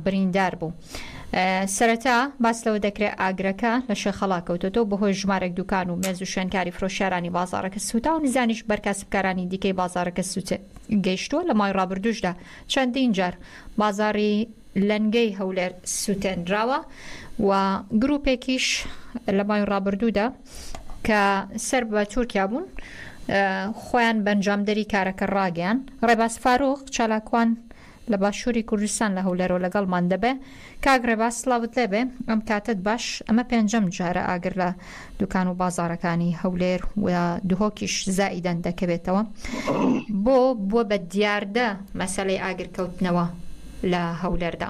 بریندار بوو. سەرەتا باس لەوە دەکرێ ئاگرەکە لە شێخەڵا کەوتۆتە و بەهۆی ژمارێک دووکان و مێز و شوێنکاری فرۆشیارانی بازاڕەکە سووتا و نزانیش بەر کاسبکارانی دیکەی بازاڕەکە سووت گەیشتووە، لە مای ڕابردووشدا چەندین جار بازاڕی لەنگەی هەولێر سوتێنراوە و گروپێکیش لە مای ڕابردوودا کە سەر بە تورکیا بوون خۆیان بەنجامدەری کارەکە ڕاگەیان ڕێباز فاروق چالاکوان لە باشووری کوردستان لە هەولێرەوە لەگەڵمان دەبێ کاک ڕێباز سڵاوت لێبێ ئەم کاتەت باش ئەمە پێنجەم جارە ئاگر لە دوکان و بازاڕەکانی هەولێر و دهۆکیش زائیدەن دەکەوێتەوە بۆ بووە بە دیاردە مەسەلەی ئاگر کەوتنەوە لە هەولێردا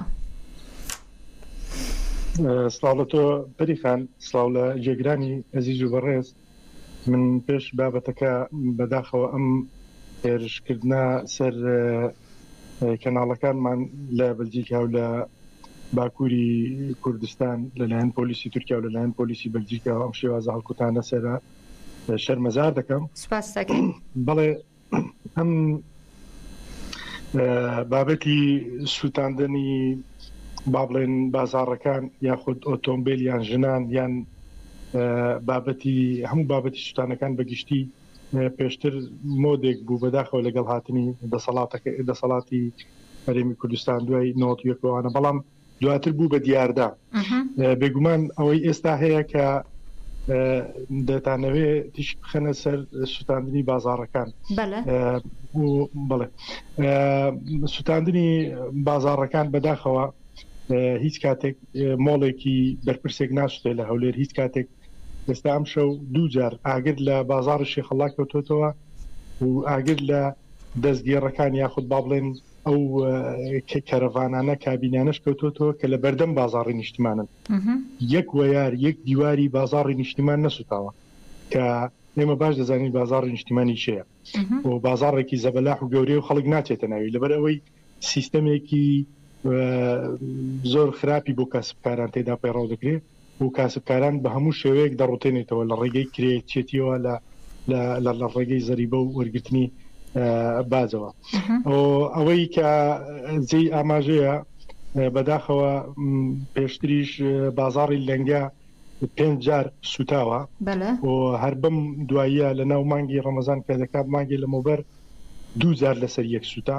سڵاو لە تۆ پەریخان سڵاو لە جێگرانی ئەزیز و بەڕێز من پێش بابەتەکە بەداخەوە ئەم هێرشکردنە سەر کەناڵەکانمان لە بەلجیکا و لە باکووری کوردستان لەلایەن پۆلیسی تورکیا و لەلایەن پۆلیسی بەلجیکا ئەم شێوازە هەڵکوتانە سەرە شەرمەزار دەکەم سپاس دەکەم بەڵێ ئەم بابەتی سووتاندنی با بڵێن بازاڕەکان یاخود ئۆتۆمبیل یان ژنان یان بابەتی هەموو بابەتی سووتانەکان بەگشتی پێشتر مۆدێک بوو بەداخەوە لەگەڵ هاتنی دەسەڵاتەکە دەسەڵاتی هەرێمی کوردستان دوای نۆتیەکەوانە بەڵام دواتر بوو بە دیاردە بێگومان ئەوەی ئێستا هەیە کە دەتانەوێ تیش بخەنە سەر سووتاندنی بازارەکان بڵێ سووتاندنی بازارەکان بەداخەوە هیچ کاتێک مۆڵێکی بەرپرسێک ناشتێ لە هەولێر هیچ کاتێک ئێستا ئەم شەو دوو جار ئاگر لە بازاری شێخەڵا کەوتۆتەوە و ئاگر لە دەستگێڕەکان یاخود با بڵێن ئەو کەرەڤانانە کابینانەش کەوتۆتەوە کە لە بەردەم بازاڕی نیشتمانن یەک وەیار یەک دیواری بازاڕی نیشتیمان نەسوتاوە کە ئێمە باش دەزانین بازاڕی نیشتیمانی شەیە و بازاڕێکی زەبەلاح و گەورەی و خەڵک ناچێتە ناوی لەبەر ئەوەی سیستەمێکی زۆر خراپی بۆ کەسبکاران تێدا پەیڕاو دەکرێت و کاسبکاران بە هەموو شێوەیەک دەڕوتێنێتەوە لە ڕێگەی کرێچێتیەوە لە لە ڕێگەی زەریبە و وەرگرتنی باجەوە ئەوەی کە جێی ئاماژەیە بەداخەوە پێشتریش بازاڕی لەنگە پێنج جار سوتاوە هەر بم دواییە لە ناو مانگی ڕەمەزان کە دەکات مانگی لە مۆبەر دوو جار لەسەر یەک سوتا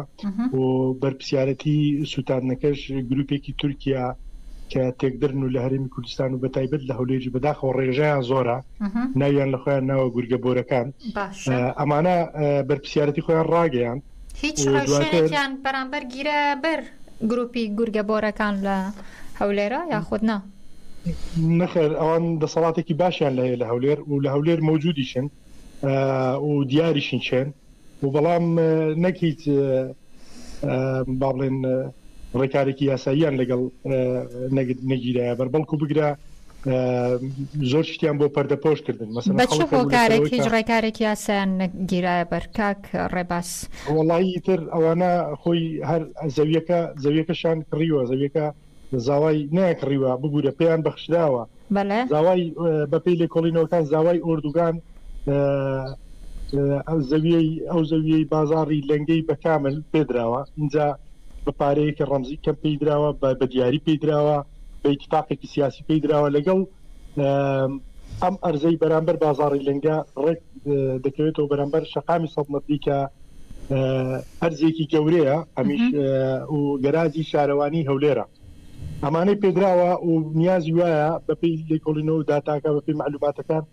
و بەرپسیارەتی سووتانەکەش گروپێکی تورکیا کە تێکدرن و لە هەرمی کوردستان و بەتایبەت لە هەولێری بەداخەوە ڕێژەیان زۆرە ناویان لە خۆیان ناوە گورگە بۆرەکان ئەمانە بەرپسیارەتی خۆیان ڕاگەیان هیچ ڕێژەیان بەرامبەر گیرە بەر گروپی گورگە بۆرەکان لە هەولێرە یاخود نا نەخێر ئەوان دەسەڵاتێکی باشیان لە هەیە لە هەولێر و لە هەولێر مەوجودیشن و دیاریشین چێن و بەڵام نەک هیچ با بڵێن ڕێکارێکی یاساییان لەگەڵ نەگیرایە بەر بەڵکو بگرە زۆر شتیان بۆ پەردەپۆش کردن مەسەکارێک هیچ ڕێکارێک یاسایان نەگیرایە بەرکاک ڕێباس وڵی تر ئەوانە خۆی هەر زەویەکە زەویەکەشان کڕیوە زەویەکە زاوای نەیەک ڕیوە ببورە پێیان بەخشراوە بەلێ زاوای بەپی لێکۆڵینەوەکان زاوای ئۆردوگان ئەو زەویەی ئەو زەویەی بازاری لەنگەی بەکامل پێدراوە اینجا بە پارەیەکی ڕەمزی کەم پێدراوە بە بە دیاری پێدراوە بە اتفاقێکی سیاسی پێدراوە لەگەڵ ئەم ئەرزەی بەرامبەر بازاری لەنگە ڕێک دەکەوێتەوە بەرامبەر شقامی سەد مەتری کە ئەرزێکی گەورەیە ئەمیش و گەرازی شارەوانی هەولێرە ئەمانەی پێدراوە و نیازی وایە بەپی لێکۆڵینەوە داتاکە بەپی معلوماتەکان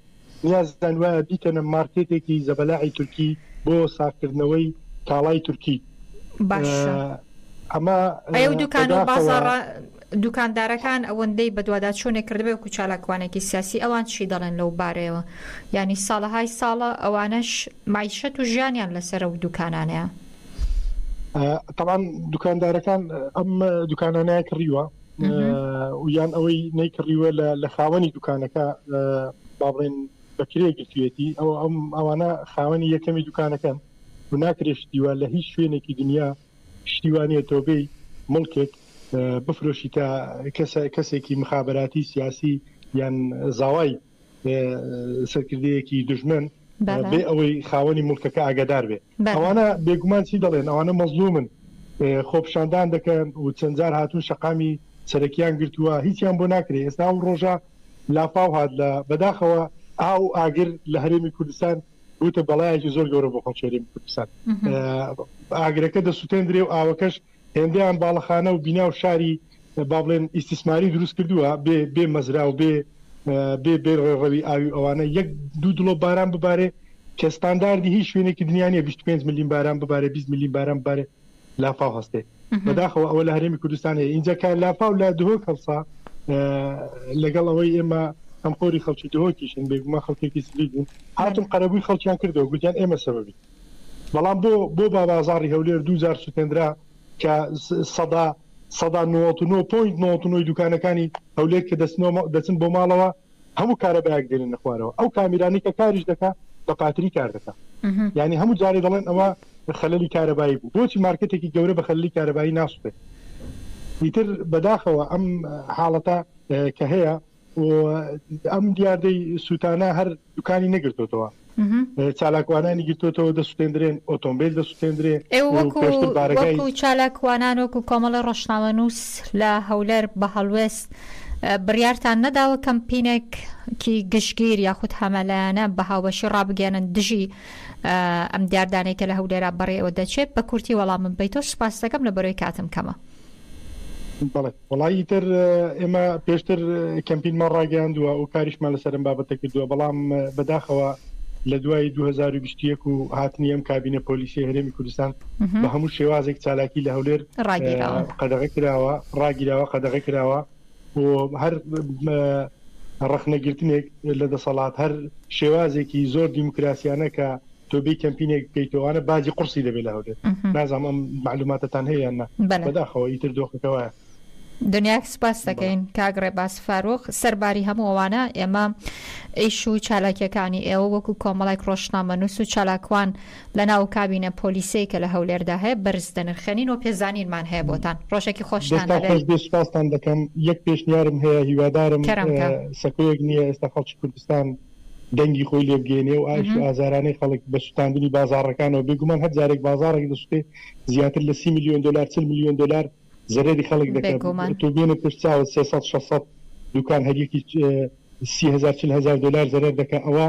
نیازیان وایە بیکەنە مارکێتێکی زەبەلاحی تورکی بۆ ساغکردنەوەی کاڵای تورکی. باشە ئەمە ئەی و دوکان و بەداخەوە بازاڕە دوکاندارەکان ئەوەندەی بەدوادا چۆنێک کردبێ وەکو چالاکوانێکی سیاسی ئەوان چی دەڵێن لەو بارەیەوە یانی ساڵەهای ساڵە ئەوانەش مەعیشەت و ژیانیان لەسەر ئەو دوکانانەیە. تەبعەن دوکاندارەکان ئەم دوکانانەیان کڕیوە، یان ئەوەی نەیکڕیوە لە خاوەنی دوکانەکە باڵێن بەکرێ گرتوێتی ئەو ئەم ئەوانە خاوەنی یەکەمی دوکانەکەن و ناکرێش دیوە لە هیچ شوێنێکی دنیا شتیوانە تۆبەی مڵکێک بفرۆشی تا کەسە کەسێکی مخابراتی سیاسی یان زاوای سەرکردەیەکی دژمن بێ ئەوەی خاوەنی ملکەکە ئاگادار بێ ئەوانە بێگومان چی دەڵێن ئەوانە مەزلومن خۆپشاندان دەکەن و چەندجار هاتوو شقامی سەرەکیان گرتووە هیچیان بۆ ناکرێت ئێستا و ڕۆژە لافاو هاات لە بەداخەوە ئاو ئاگر لە هەرێمی کوردستان بوتە بەڵایەکی زۆر گەورە بۆ خەڵکێریم کوردستان ئاگرەکە دەسووتێندرێ و ئاوەکەش هێندەیان باڵەخانە و بینا و شاری با بڵێن ئیستیسماری دروست کردووە بێ بێ مەزرا و بێ بێ بێ ڕێڕەوی ئاوی ئەوانە یەک دوو دڵۆ باران ببارێ کە ستانداردی هیچ شوێنێکی دنیاە 25 ملیم باران ببارە 20 ملیم باران ببارێ لافاو هەستێ بەداخەوە ئەوە لە هەرێمی کوردستانەیە ئینجا کار لافاو لە دهۆک هەڵسا لەگەڵ ئەوەی ئێمە ئەم خۆری خەڵکی دهۆکیشن بێگوما خەڵکێکی سلی بوون هاتم قەرەبووی خەڵکیان کردەوە گوتیان ئێمە سەبی بەڵام بۆ بۆ بابازاری هەولێر دوو جار سوتێنرا کە سەدا سەدا نۆت و نۆ پۆینت نۆت و نۆی دوکانەکانی هەولێر کە دەستنەوە دەچن بۆ ماڵەوە هەموو کارەبایەک دێنن نەخوارەوە ئەو کامیرانی کە کاریش دەکا بە پاتری کار دەکا یعنی هەموو جارێ دەڵێن ئەوە خەللی کارەبایی بوو بۆچی مارکتێکی گەورە بە خەللی کارەبایی ناسوێت ئیتر بەداخەوە ئەم حاڵەتە کە هەیە و ئەم دیاردەی سووتانە هەر دوکانی نەگرتوتەوە چالاکوانانی گرتوتەوە دەسوێندرێن ئۆتۆمبیل دەسوێندرێ چالاکوانان وەکو کۆمەڵی ڕۆشناوە نووس لە هەولەر بە هەڵوێست بڕیارتان نەداوە کەمپینێک کی گشتگیر یاخود هەمەلایەنە بە هاوبەشی ڕابگەێنن دژی ئەم دیاردانەی کە لە هەولێرا بەڕێەوە دەچێت بە کورتی وەڵامم بیتۆ سوپاستەکەم لە بەرەوەی کاتم کەمە. وەڵا ئیتر ئێمە پێشتر کەمپینمان ڕاگەیاندووە و کاریشمان لەسەر ئەم بابەتە کردووە بەڵام بەداخەوە لە دوای 2021 و هاتنی ئەم کابینە پۆلیسی هەرێمی کوردستان بە هەموو شێوازێک چالاکی لە هەولێر ڕاگیراوە قەدەغە کراوە ڕاگیراوە قەدەغە کراوە و هەر ڕخنەگرتنێک لە دەسەڵات هەر شێوازێکی زۆر دیموکراسیانە کە تۆ بێی کەمپینێک بکەیتەوە ئەنە باجی قورسی دەبێت لە هەولێر نازانم ئەم معلوماتتان هەیە یان نا بەلێ. بەداخەوە ئیتر دۆخەکەوە دنیاک سپاس دەکەین کاک ڕێباز فاروق سەرباری هەموو ئەوانە ئێمە ئیش و چالاکیەکانی ئێوە وەکو کۆمەڵێک ڕۆژنامەنووس و چالاکوان لە ناو کابینە پۆلیسەی کە لە هەولێردا هەیە بەرز دەنرخێنین و پێزانینمان هەیە بۆتان ڕۆژێکی خۆشتان دەستان هەبێت خۆش بێ سپاستان دەکەم یەک پێشنیارم هەیە هیوادارم کەرەمکە. اه، سەکۆیەک نییە ئێستا خەڵکی کوردستان دەنگی خۆی لێ بگەینێ و ئایش و ئازارانەی خەڵک بە سوتاندنی بازاڕەکانەوە بێگومان هەر جارێک بازاڕێک دەسوتێ زیاتر لە سی ملیۆن دۆلار چل ملیۆن دۆلار زەرەری خەڵک دەکات تۆ بێنە پێش چاوت سێ سەد شەش سەد دوکان هەریەکی سی هەزار چل هەزار دۆلار زەرەر دەکات ئەوە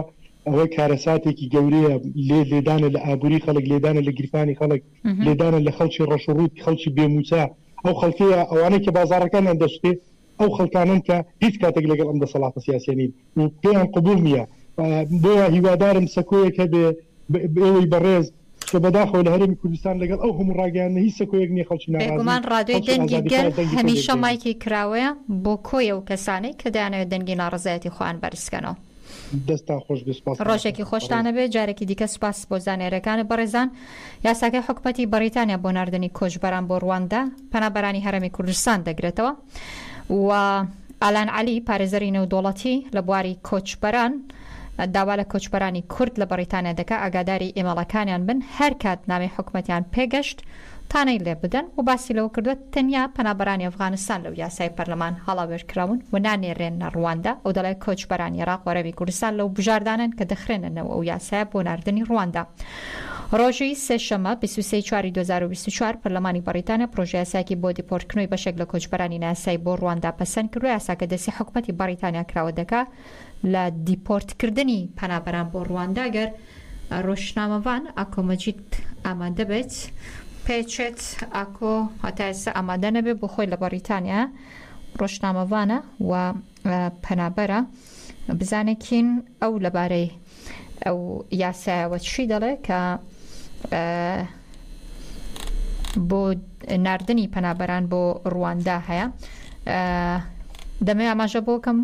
ئەوە کارەساتێکی گەورەیە لێ لێدانە لە ئابووری خەڵک لێدانە لە گیرفانی خەڵک لێدانە لە خەڵکی ڕەشڕووت خەڵکی بێموچە ئەو خەڵکەیە ئەوانەی کە بازارەکانیان دەستێ ئەو خەڵکانەن کە هیچ کاتێک لەگەڵ ئەم دەسەڵاتە سیاسیە نین و پێیان قبوڵ نییە، بۆیە هیوادارم سەکۆیەک هەبێ بەئێوەی بەڕێز، چونکە بەداخەوە لە هەرێمی کوردستان لەگەڵ ئەو هەموو ڕاگەیاندنە هیچ سەکۆیەک نییە خەڵکی ناڕازی، بێگومان ڕادیۆی خەڵکی دەنگی گەل ئازادیخواز دەنگی خۆی هەمیشە لێبدەین. مایکی کراوەیە بۆ کۆی ئەو کەسانەی کە دەیانەوێت دەنگی ناڕەزایەتی خۆیان بەرز بکەنەوە. دەستتان خۆش بێت سوپاس کاک ڕۆژێکی ئەحمەد بەڕێز. خۆشتانە بێت جارێکی دیکە سوپاس بۆ زانیاریەکانت بەڕێزان یاساکەی حکومەتی بەڕیتانیا بۆ ناردنی کۆچبەران بۆ ڕواندا پەنابەرانی هەرێمی کوردستان دەگرێتەوە و ئالان عەلی پارێزەری نێودەوڵەتی لە بواری کۆچبەران داوا لە کۆچبەرانی کورد لە بەڕیتانیا دەکا ئاگاداری ئیمێڵەکانیان بن هەرکات نامەی حکومەتیان پێگەشت تانەی لێ بدەن و باسی لەوە کردووە، تەنیا پەنابەرانی ئەفغانستان لەو یاسای پەرلەمان هەڵاوێرکراون و نانێرێنە رواندا، ئەو دەڵێت، کۆچبەرانی عێراق وەرەمی کوردستان لەو بژاردانەن کە دەخرێنە نێو ئەو یاسایە بۆ ناردنی رواندا. رۆژی سێشەممە بیست و سێ ی چواری دوو هەزار و بیست و چوار پەرلەمانی بەڕیتانیا پرۆژەیاسایەکی بۆ دیپۆرتکرنەوەی بەشێک لە کۆچبەرانی نایاسایی بۆ رواندا پەسەندکرد و یاساکە دەستی حکومەتی بەڕیتانیا کراوە دەکا لە دیپۆرت کردنی پەنابەران بۆ ڕواندا گەر ڕۆژنامەڤان ئاکۆ مەجید ئامادە بێت پێچێت ئاکۆ هەتا ئێستا ئامادە نەبێت بۆ خۆی لە بەڕیتانیا ڕۆژنامەڤانە و پەنابەرە بزانێکین ئەو لەبارەی ئەو یاسایەوە چی دەڵێ کە بۆ نردنی پەنابەران بۆ ڕواندا هەیە دەمێ ئاماژە بۆکەم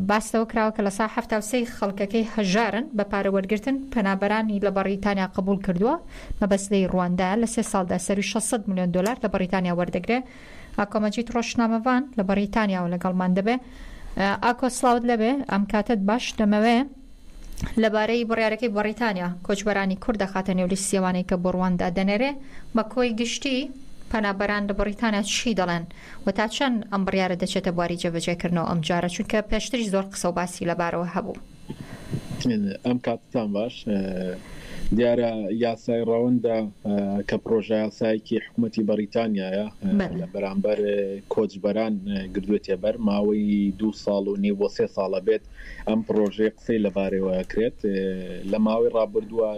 باستەوە کراوە کە لە سا هەفتا سەی خەڵکەکەی هەژارن بە پارەوەرگتن پەنابەرانی لە بەڕیتانیا قبول کردووە مەبەستی ڕواندا لە سێ ساڵدا سەروی 600 میلیۆن دلار لە بەڕیتانیا وەردەگرێ ئاکۆ مەجید ڕۆژشنامەڤان لە بەڕیتانیاوە لەگەڵمان دەبێ. ئاکۆ سڵاوت لەبێ، ئەم کاتەت باش، دەمەوێ لەبارەی بڕیارەکەی بەڕیتانیا کۆچبەرانی کورد دەخاتە نێو لیستی ئەوانەی کە بۆ ڕواندا دەنێرێ، بە کۆی گشتی پەنابەران لە بەڕیتانیا چی دەڵێن و تا چەند ئەم بڕیارە دەچێتە بواری جێبەجێکردنەوە ئەمجارە، چونکە پێشتریش زۆر قسە و باسی لەبارەوە هەبوو. ئەم کاتتان باش. دیارە یاسای ڕەوەندە کە پڕۆژەیاسایەکی حکومەتی بەڕیتانیایە لە بەرامبەر کۆچبەران گردوێتیە بەر، ماوەی دوو ساڵ و نیو بۆ سێ ساڵ ئەبێت ئەم پڕۆژەیە قسەی لە بارەیەوە ئەکرێت. لە ماوەی ڕابردووە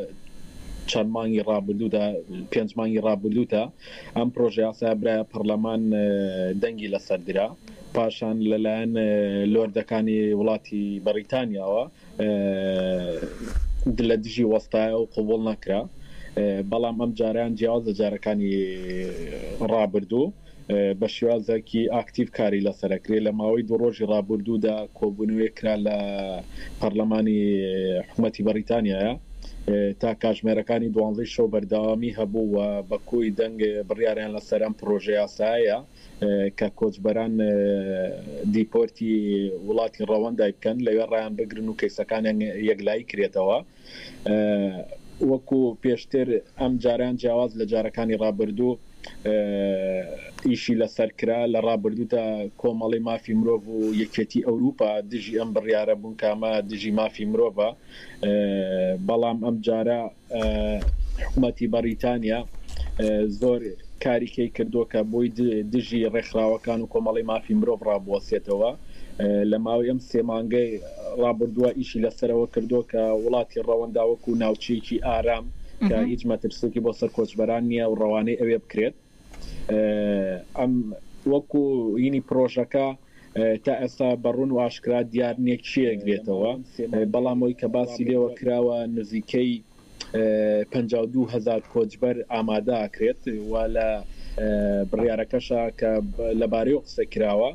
چەند مانگی ڕابردوودا پێنج مانگی ڕابردوودا ئەم پڕۆژەیاسایە برایە پەڕلەمان دەنگی لەسەر درا. پاشان لەلایەن لۆردەکانی وڵاتی بەڕیتانیاوە لە دژی وەستایە و قبوڵ نەکرا، بەڵام ئەم جارەیان جیاواز لە جارەکانی ڕابردوو بە شێوازێکی ئاکتیڤ کاری لەسەرە کرێ، لە ماوەی دوو ڕۆژی ڕابوردوودا کۆبوونەوەیەک کرا لە پەڕلەمانی حکومەتی بەڕیتانیایا تا کاژمێرەکانی دوانزەی شەو بەردەوامی هەبوو و بە کۆی دەنگ بڕیاریان لەسەر ئەم پڕۆژە یاسایە کە کۆچبەران دیپۆرتی وڵاتی ڕەوەندای بکەن لەوێ ڕایان بگرن و کەیسەکانیان یەکلایی کرێتەوە وەکو پێشتر ئەم جارەیان جیاواز لە جارەکانی ڕابردوو ئیشی لەسەر کرا لە ڕابردوودا کۆمەڵی مافی مرۆڤ و یەکێتی ئەوروپا دژی ئەم بڕیارە بوون کامە دژی مافی مرۆڤە بەڵام ئەم جارە حکومەتی بەڕیتانیا زۆر کاری کەی کردووە کە بۆی دژی ڕێکخراوەکان و کۆمەڵی مافی مرۆڤ ڕابوەسێتەوە لە ماوەی ئەم سێ مانگەی ڕابردووە ئیشی لەسەرەوە کردووە کە وڵاتی ڕەوەنداوەکو ناوچەیەکی ئارام کە هیچ مەترسێکی بۆ سەر کۆچبەران نییە و ڕەوانەی ئەوێ بکرێت ئەم وەکو ینی پرۆژەکە تا ئێستا بە ڕوون و ئاشکرا دیار نیە کێیەک بێتەوە بەڵام ئەوەی کە باسی لێوە کراوە نزیکەی پەنجا و دوو هەزار کۆچبەر ئامادە ئەکرێت و لە بڕیارەکەشا کە لە بارەیەوە قسە کراوە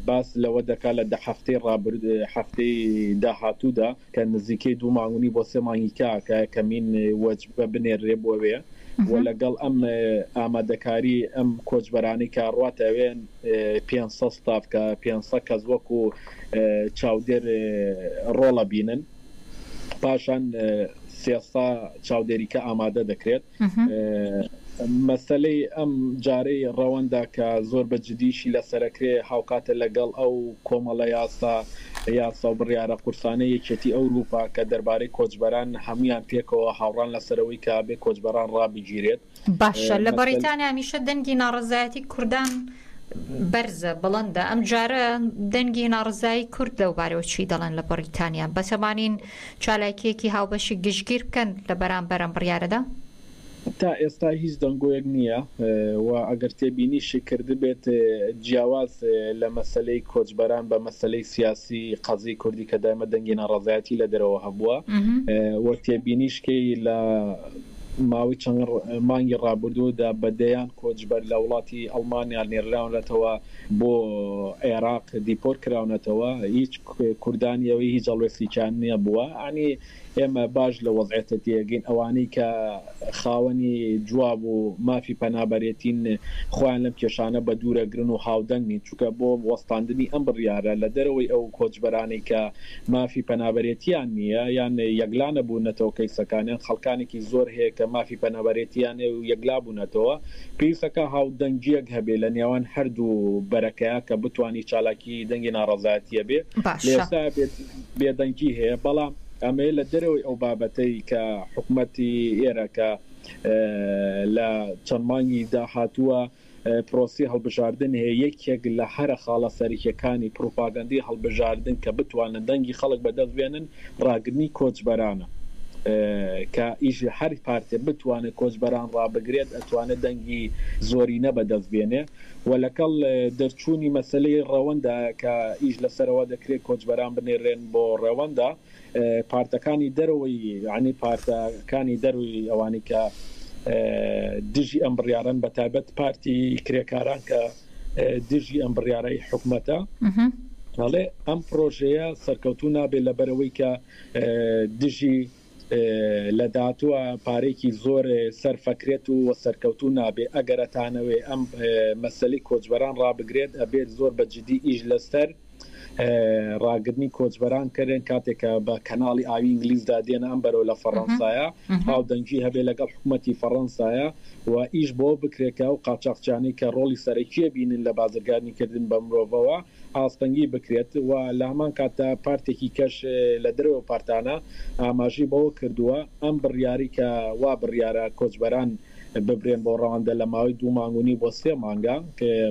باس لەوە دەکا لە دە هەفتەی ڕابردوو هەفتەی داهاتوودا کە نزیکەی دوو مانگ و نیو بۆ سێ مانگی کە کە کەمین وەجبە بنێررێ بۆ وێ و لە گەڵ ئەم ئامادەکاری ئەم کۆچبەرانی کە ڕاتە وێ پێنج سەد ستاف کە پێنج سەد کەس وەکو چاودێر ڕۆڵە بینن پاشان سێ سەد چاودێریکە ئامادە دەکرێت. مەسەلەی ئەم جارەی ڕەوەندە کە زۆر بە جدیشی لەسەرەکرێ هاوکاتە لەگەڵ ئەو کۆمەڵە یاسا یاسا و بڕیارە قورسانەی یەکێتی ئەوروپا کە دەربارەی کۆچبەران هەموویان پێکەوە هاوڕان لەسەرەوەی کە ئەبێ کۆچبەران ڕابگیرێت. باشە لە بەڕیتانیا هەمیشە دەنگی ناڕەزایەتی کوردان بەرزە بڵندە ئەم جارە دەنگی ناڕەزایی کورد لەو بارەوە چی دەڵێن لە بەڕیتانیا بەتەمانین چالاکییەکی هاوبەشی گشتگیر بکەن لە بەرامبەر ئەم بڕیارەدا؟ تا ئێستا هیچ دەنگۆیەک نییە و ئەگەر تێبینیشی کردبێت جیاواز لە مەسەلەی کۆچبەران بە مەسەلەی سیاسی قەزیەی کوردی کە دایمە دەنگی ناڕەزایەتی لە دەرەوە هەبووە و تێبینیش کەی لە ماوەی چەند مانگی ڕابردوودا بە دەیان کۆچبەر لە وڵاتی ئەڵمانیا نێرراونەتەوە بۆ عێراق دیپۆرت کراونەتەوە هیچ کوردانی ئەوەی هیچ هەڵوێستێکیان نیە بووە ئەعنی ئێمە باش لە وەزعێتە تێگەین ئەوانەی کە خاوەنی جواب و مافی پەنابەرێتین خۆیان لەم کێشانە بە دوورەگرن و هاودەنگ نین چونکە بۆ وەستاندنی ئەم بڕیارە لە دەرەوەی ئەو کۆچبەرانەی کە مافی پەنابەرێتیان نیە یان یەکلا نەبوونەتەوە کەیسەکانیان خەڵکانێکی زۆر هەیە کە مافی پەنابەرێتیان هەیە و یەکلا بوونەتەوە پێویستەکە هاودەنگیەک هەبێ لە نێوان هەردوو بەرەکەیا کە بتوانی چالاکیەکی کی دەنگی ناڕەزایەتیە بێ لێسا بێدەنگی هەیە بەڵام ئەمەیە لە دەرەوەی ئەو بابەتەی کە حکوومەتی ئێرەکە لە چەند مانگی داهاتووە پرۆسی هەڵبژاردن هەیە یەکێک لە هەرە خاڵە سەرکیەکانی پروپاگەندی هەڵبژاردن کە بتوانن دەنگی خەڵک بەدەست بێنن ڕاگرنی کۆچبەرانە کە ئیش هەر پارتێ بتوانێت کۆچبەران ڕابگرێت ئەتوانێت دەنگی زۆرینە بەدەست بێنێ و لەکەڵ دەرچوونی مەسەلەی ڕەوەندە کە ئیش لەسەرەوە دەکرێت کۆچبەران بنێررێن بۆ ڕەوەندە، پارتەکانی دەرەوەی یەعنی پارتە کانی دەروی ئەوانی کە دژی ئەم بڕیارەن بە تایبەت پارتی کرێکاران کە دژی ئەم بڕیارەی حکومەتە ئەڵێ ئەم پرۆژەیە سەرکەوتوو نابێت لەبەرەوەی کە دژی لە داهاتووە پارەیەکی زۆر سەرفەکرێت و سەرکەوتوو نابێت ئەگەر ئەتانەوێت ئەم مەسەلەی کۆچبەران ڕابگرێت ئەبێت زۆر بە جدی ئیش لەسەر ڕاگرنی کۆچبەران کەرێن کاتێک کە بە کەناڵی ئاوی ئینگلیزدا دێنە ئەم بەرەو لە فەڕەنسایە هاو دەنگی هەبێت لەگەڵ حکوومەتی فەڕەنسایە و ئیش بۆ بکرێت کە ئەو قاچاخچیانەی کە ڕۆڵی سەرەکیە بینن لە بازرگانی کردن بە مرۆڤەوە ئاستەنگی بکرێت و لە هەمان کاتدا پارتێکی کەش لە دەرەوەی پارتانە ئاماژەی بەوە کردووە، ئەم بڕیاری کە وا بڕیارە کۆچبەران ببرێن بۆ ڕەوەندە لە ماوەی دوو مانگ و نیو بۆ سێ مانگە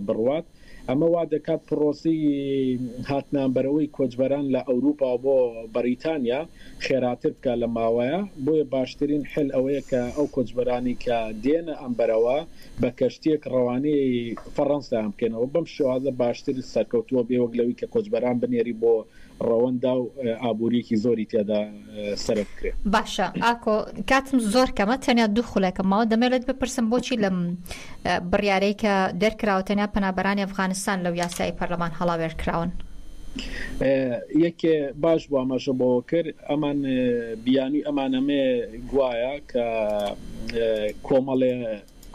بڕوات، ئەمە وا دەکات پڕۆسەی هاتنانبەرەوەی کۆچبەران لە ئەوروپا بۆ بەریتانیا، خێراتر بکات لە ماوەیە بۆیە باشترین حل ئەوەیە کە ئەو کۆچبەرانی کە دێنە ئەم بەرەوە بە کەشتیەک ڕەوانەی فەڕەنسایان بکەنەوە بەم شێوازە باشتر سەرکەوتووە بێ وەک لەوی کە کۆچبەران بنێری بۆ ڕەوەندا و ئابووریەکی زۆری تیادا سەرف بکرێ. باشە ئاکۆ کاتم زۆر کەمە تەنیا دوو خولەکم ماوە دەمەوێت لێت بپرسم بۆچی لەم بڕیارەی کە دەرکراوە تەنیا پەنابەرانی ئەفغانستان لەو یاسایەی پەرلەمان هەڵاوێرد کراون. یەک باش بوو ئاماژە بەوە کرد ئەمان بیانوی ئەمان ئەمەیە گوایە کە کۆمەڵێ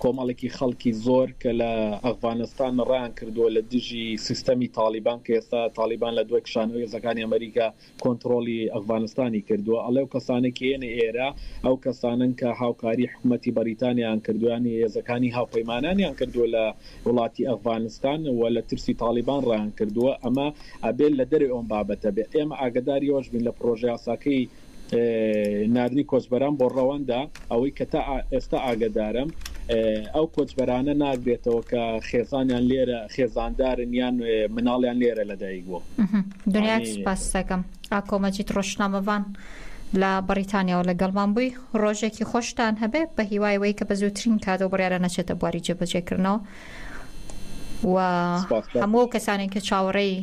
کۆمەڵێکی خەڵکی زۆر کە لە ئەفغانستان ڕایان کردووە لە دژی سیستەمی تاڵیبان کە ئێستا تاڵیبان لە دوای کشانەوە هێزەکانی ئەمەریکا کۆنتڕۆڵی ئەفغانستانی کردووە ئەڵێ و کەسانەی کە یەنە ئێرە ئەو کەسانەن کە هاوکاری حکومەتی بەریتانیایان کردووە یان هێزەکانی هاوپەیمانانیان کردووە لە وڵاتی ئەفغانستان و لە ترسی تاڵیبان ڕایان کردووە ئەمە ئەبێ لە دەرێ ئەم بابەتە بێ ئێمە ئاگەداری ئەوەش بین لە پڕۆژەیاساکەی ناردنی کۆچبەران بۆ ڕەوەندە ئەوەی کە تا ئێستا ئاگەدارم ئەو کۆچبەرانە ناگرێتەوە کە خێزانیان لێرە خێزاندارن یان مناڵیان لێرە لەدایک بووە. دنیات سوپاست دەکەم. ئاکۆ مەجید ڕۆژنامەڤان لە بەڕیتانیاوە لەگەڵمان بووی. ڕۆژێکی خۆشتان هەبێ، بە هیوای وەی کە بە زووترین کات ئەو بڕیارە نەچێتە بواری جێبەجێکردنەوە و هەموو ئەو کەسانەی کە چاوەڕێی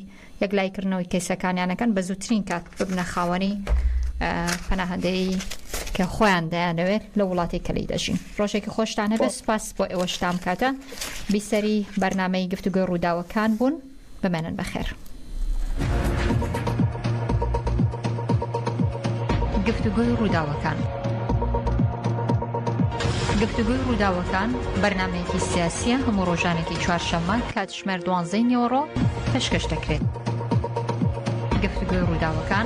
یەکلاییکردنەوەی کەیسەکانیان ئەکەن بە زووترین کات ببنە خاوەنی پەناهەندەیی کە خۆیان دەیانەوێت لە وڵاتی کەلی دەژین ڕۆژێکی خۆشتان هەبێت سپاس بۆ ئێوەشتام کاتە بیسەری بەرنمەی گفتوگوی ڕووداوەکان بوون بمێنن بەخێر. گفتوگوی ڕووداوەکان گفتوگوی ڕووداوەکان بەرنمەیەکی سیاسیە هەموو ڕۆژانێکی چوارشەممە کات کاتژمێر دوانزەی نیوەڕۆ پێشکەش دەکرێت. گفتوگۆی ڕووداوەکان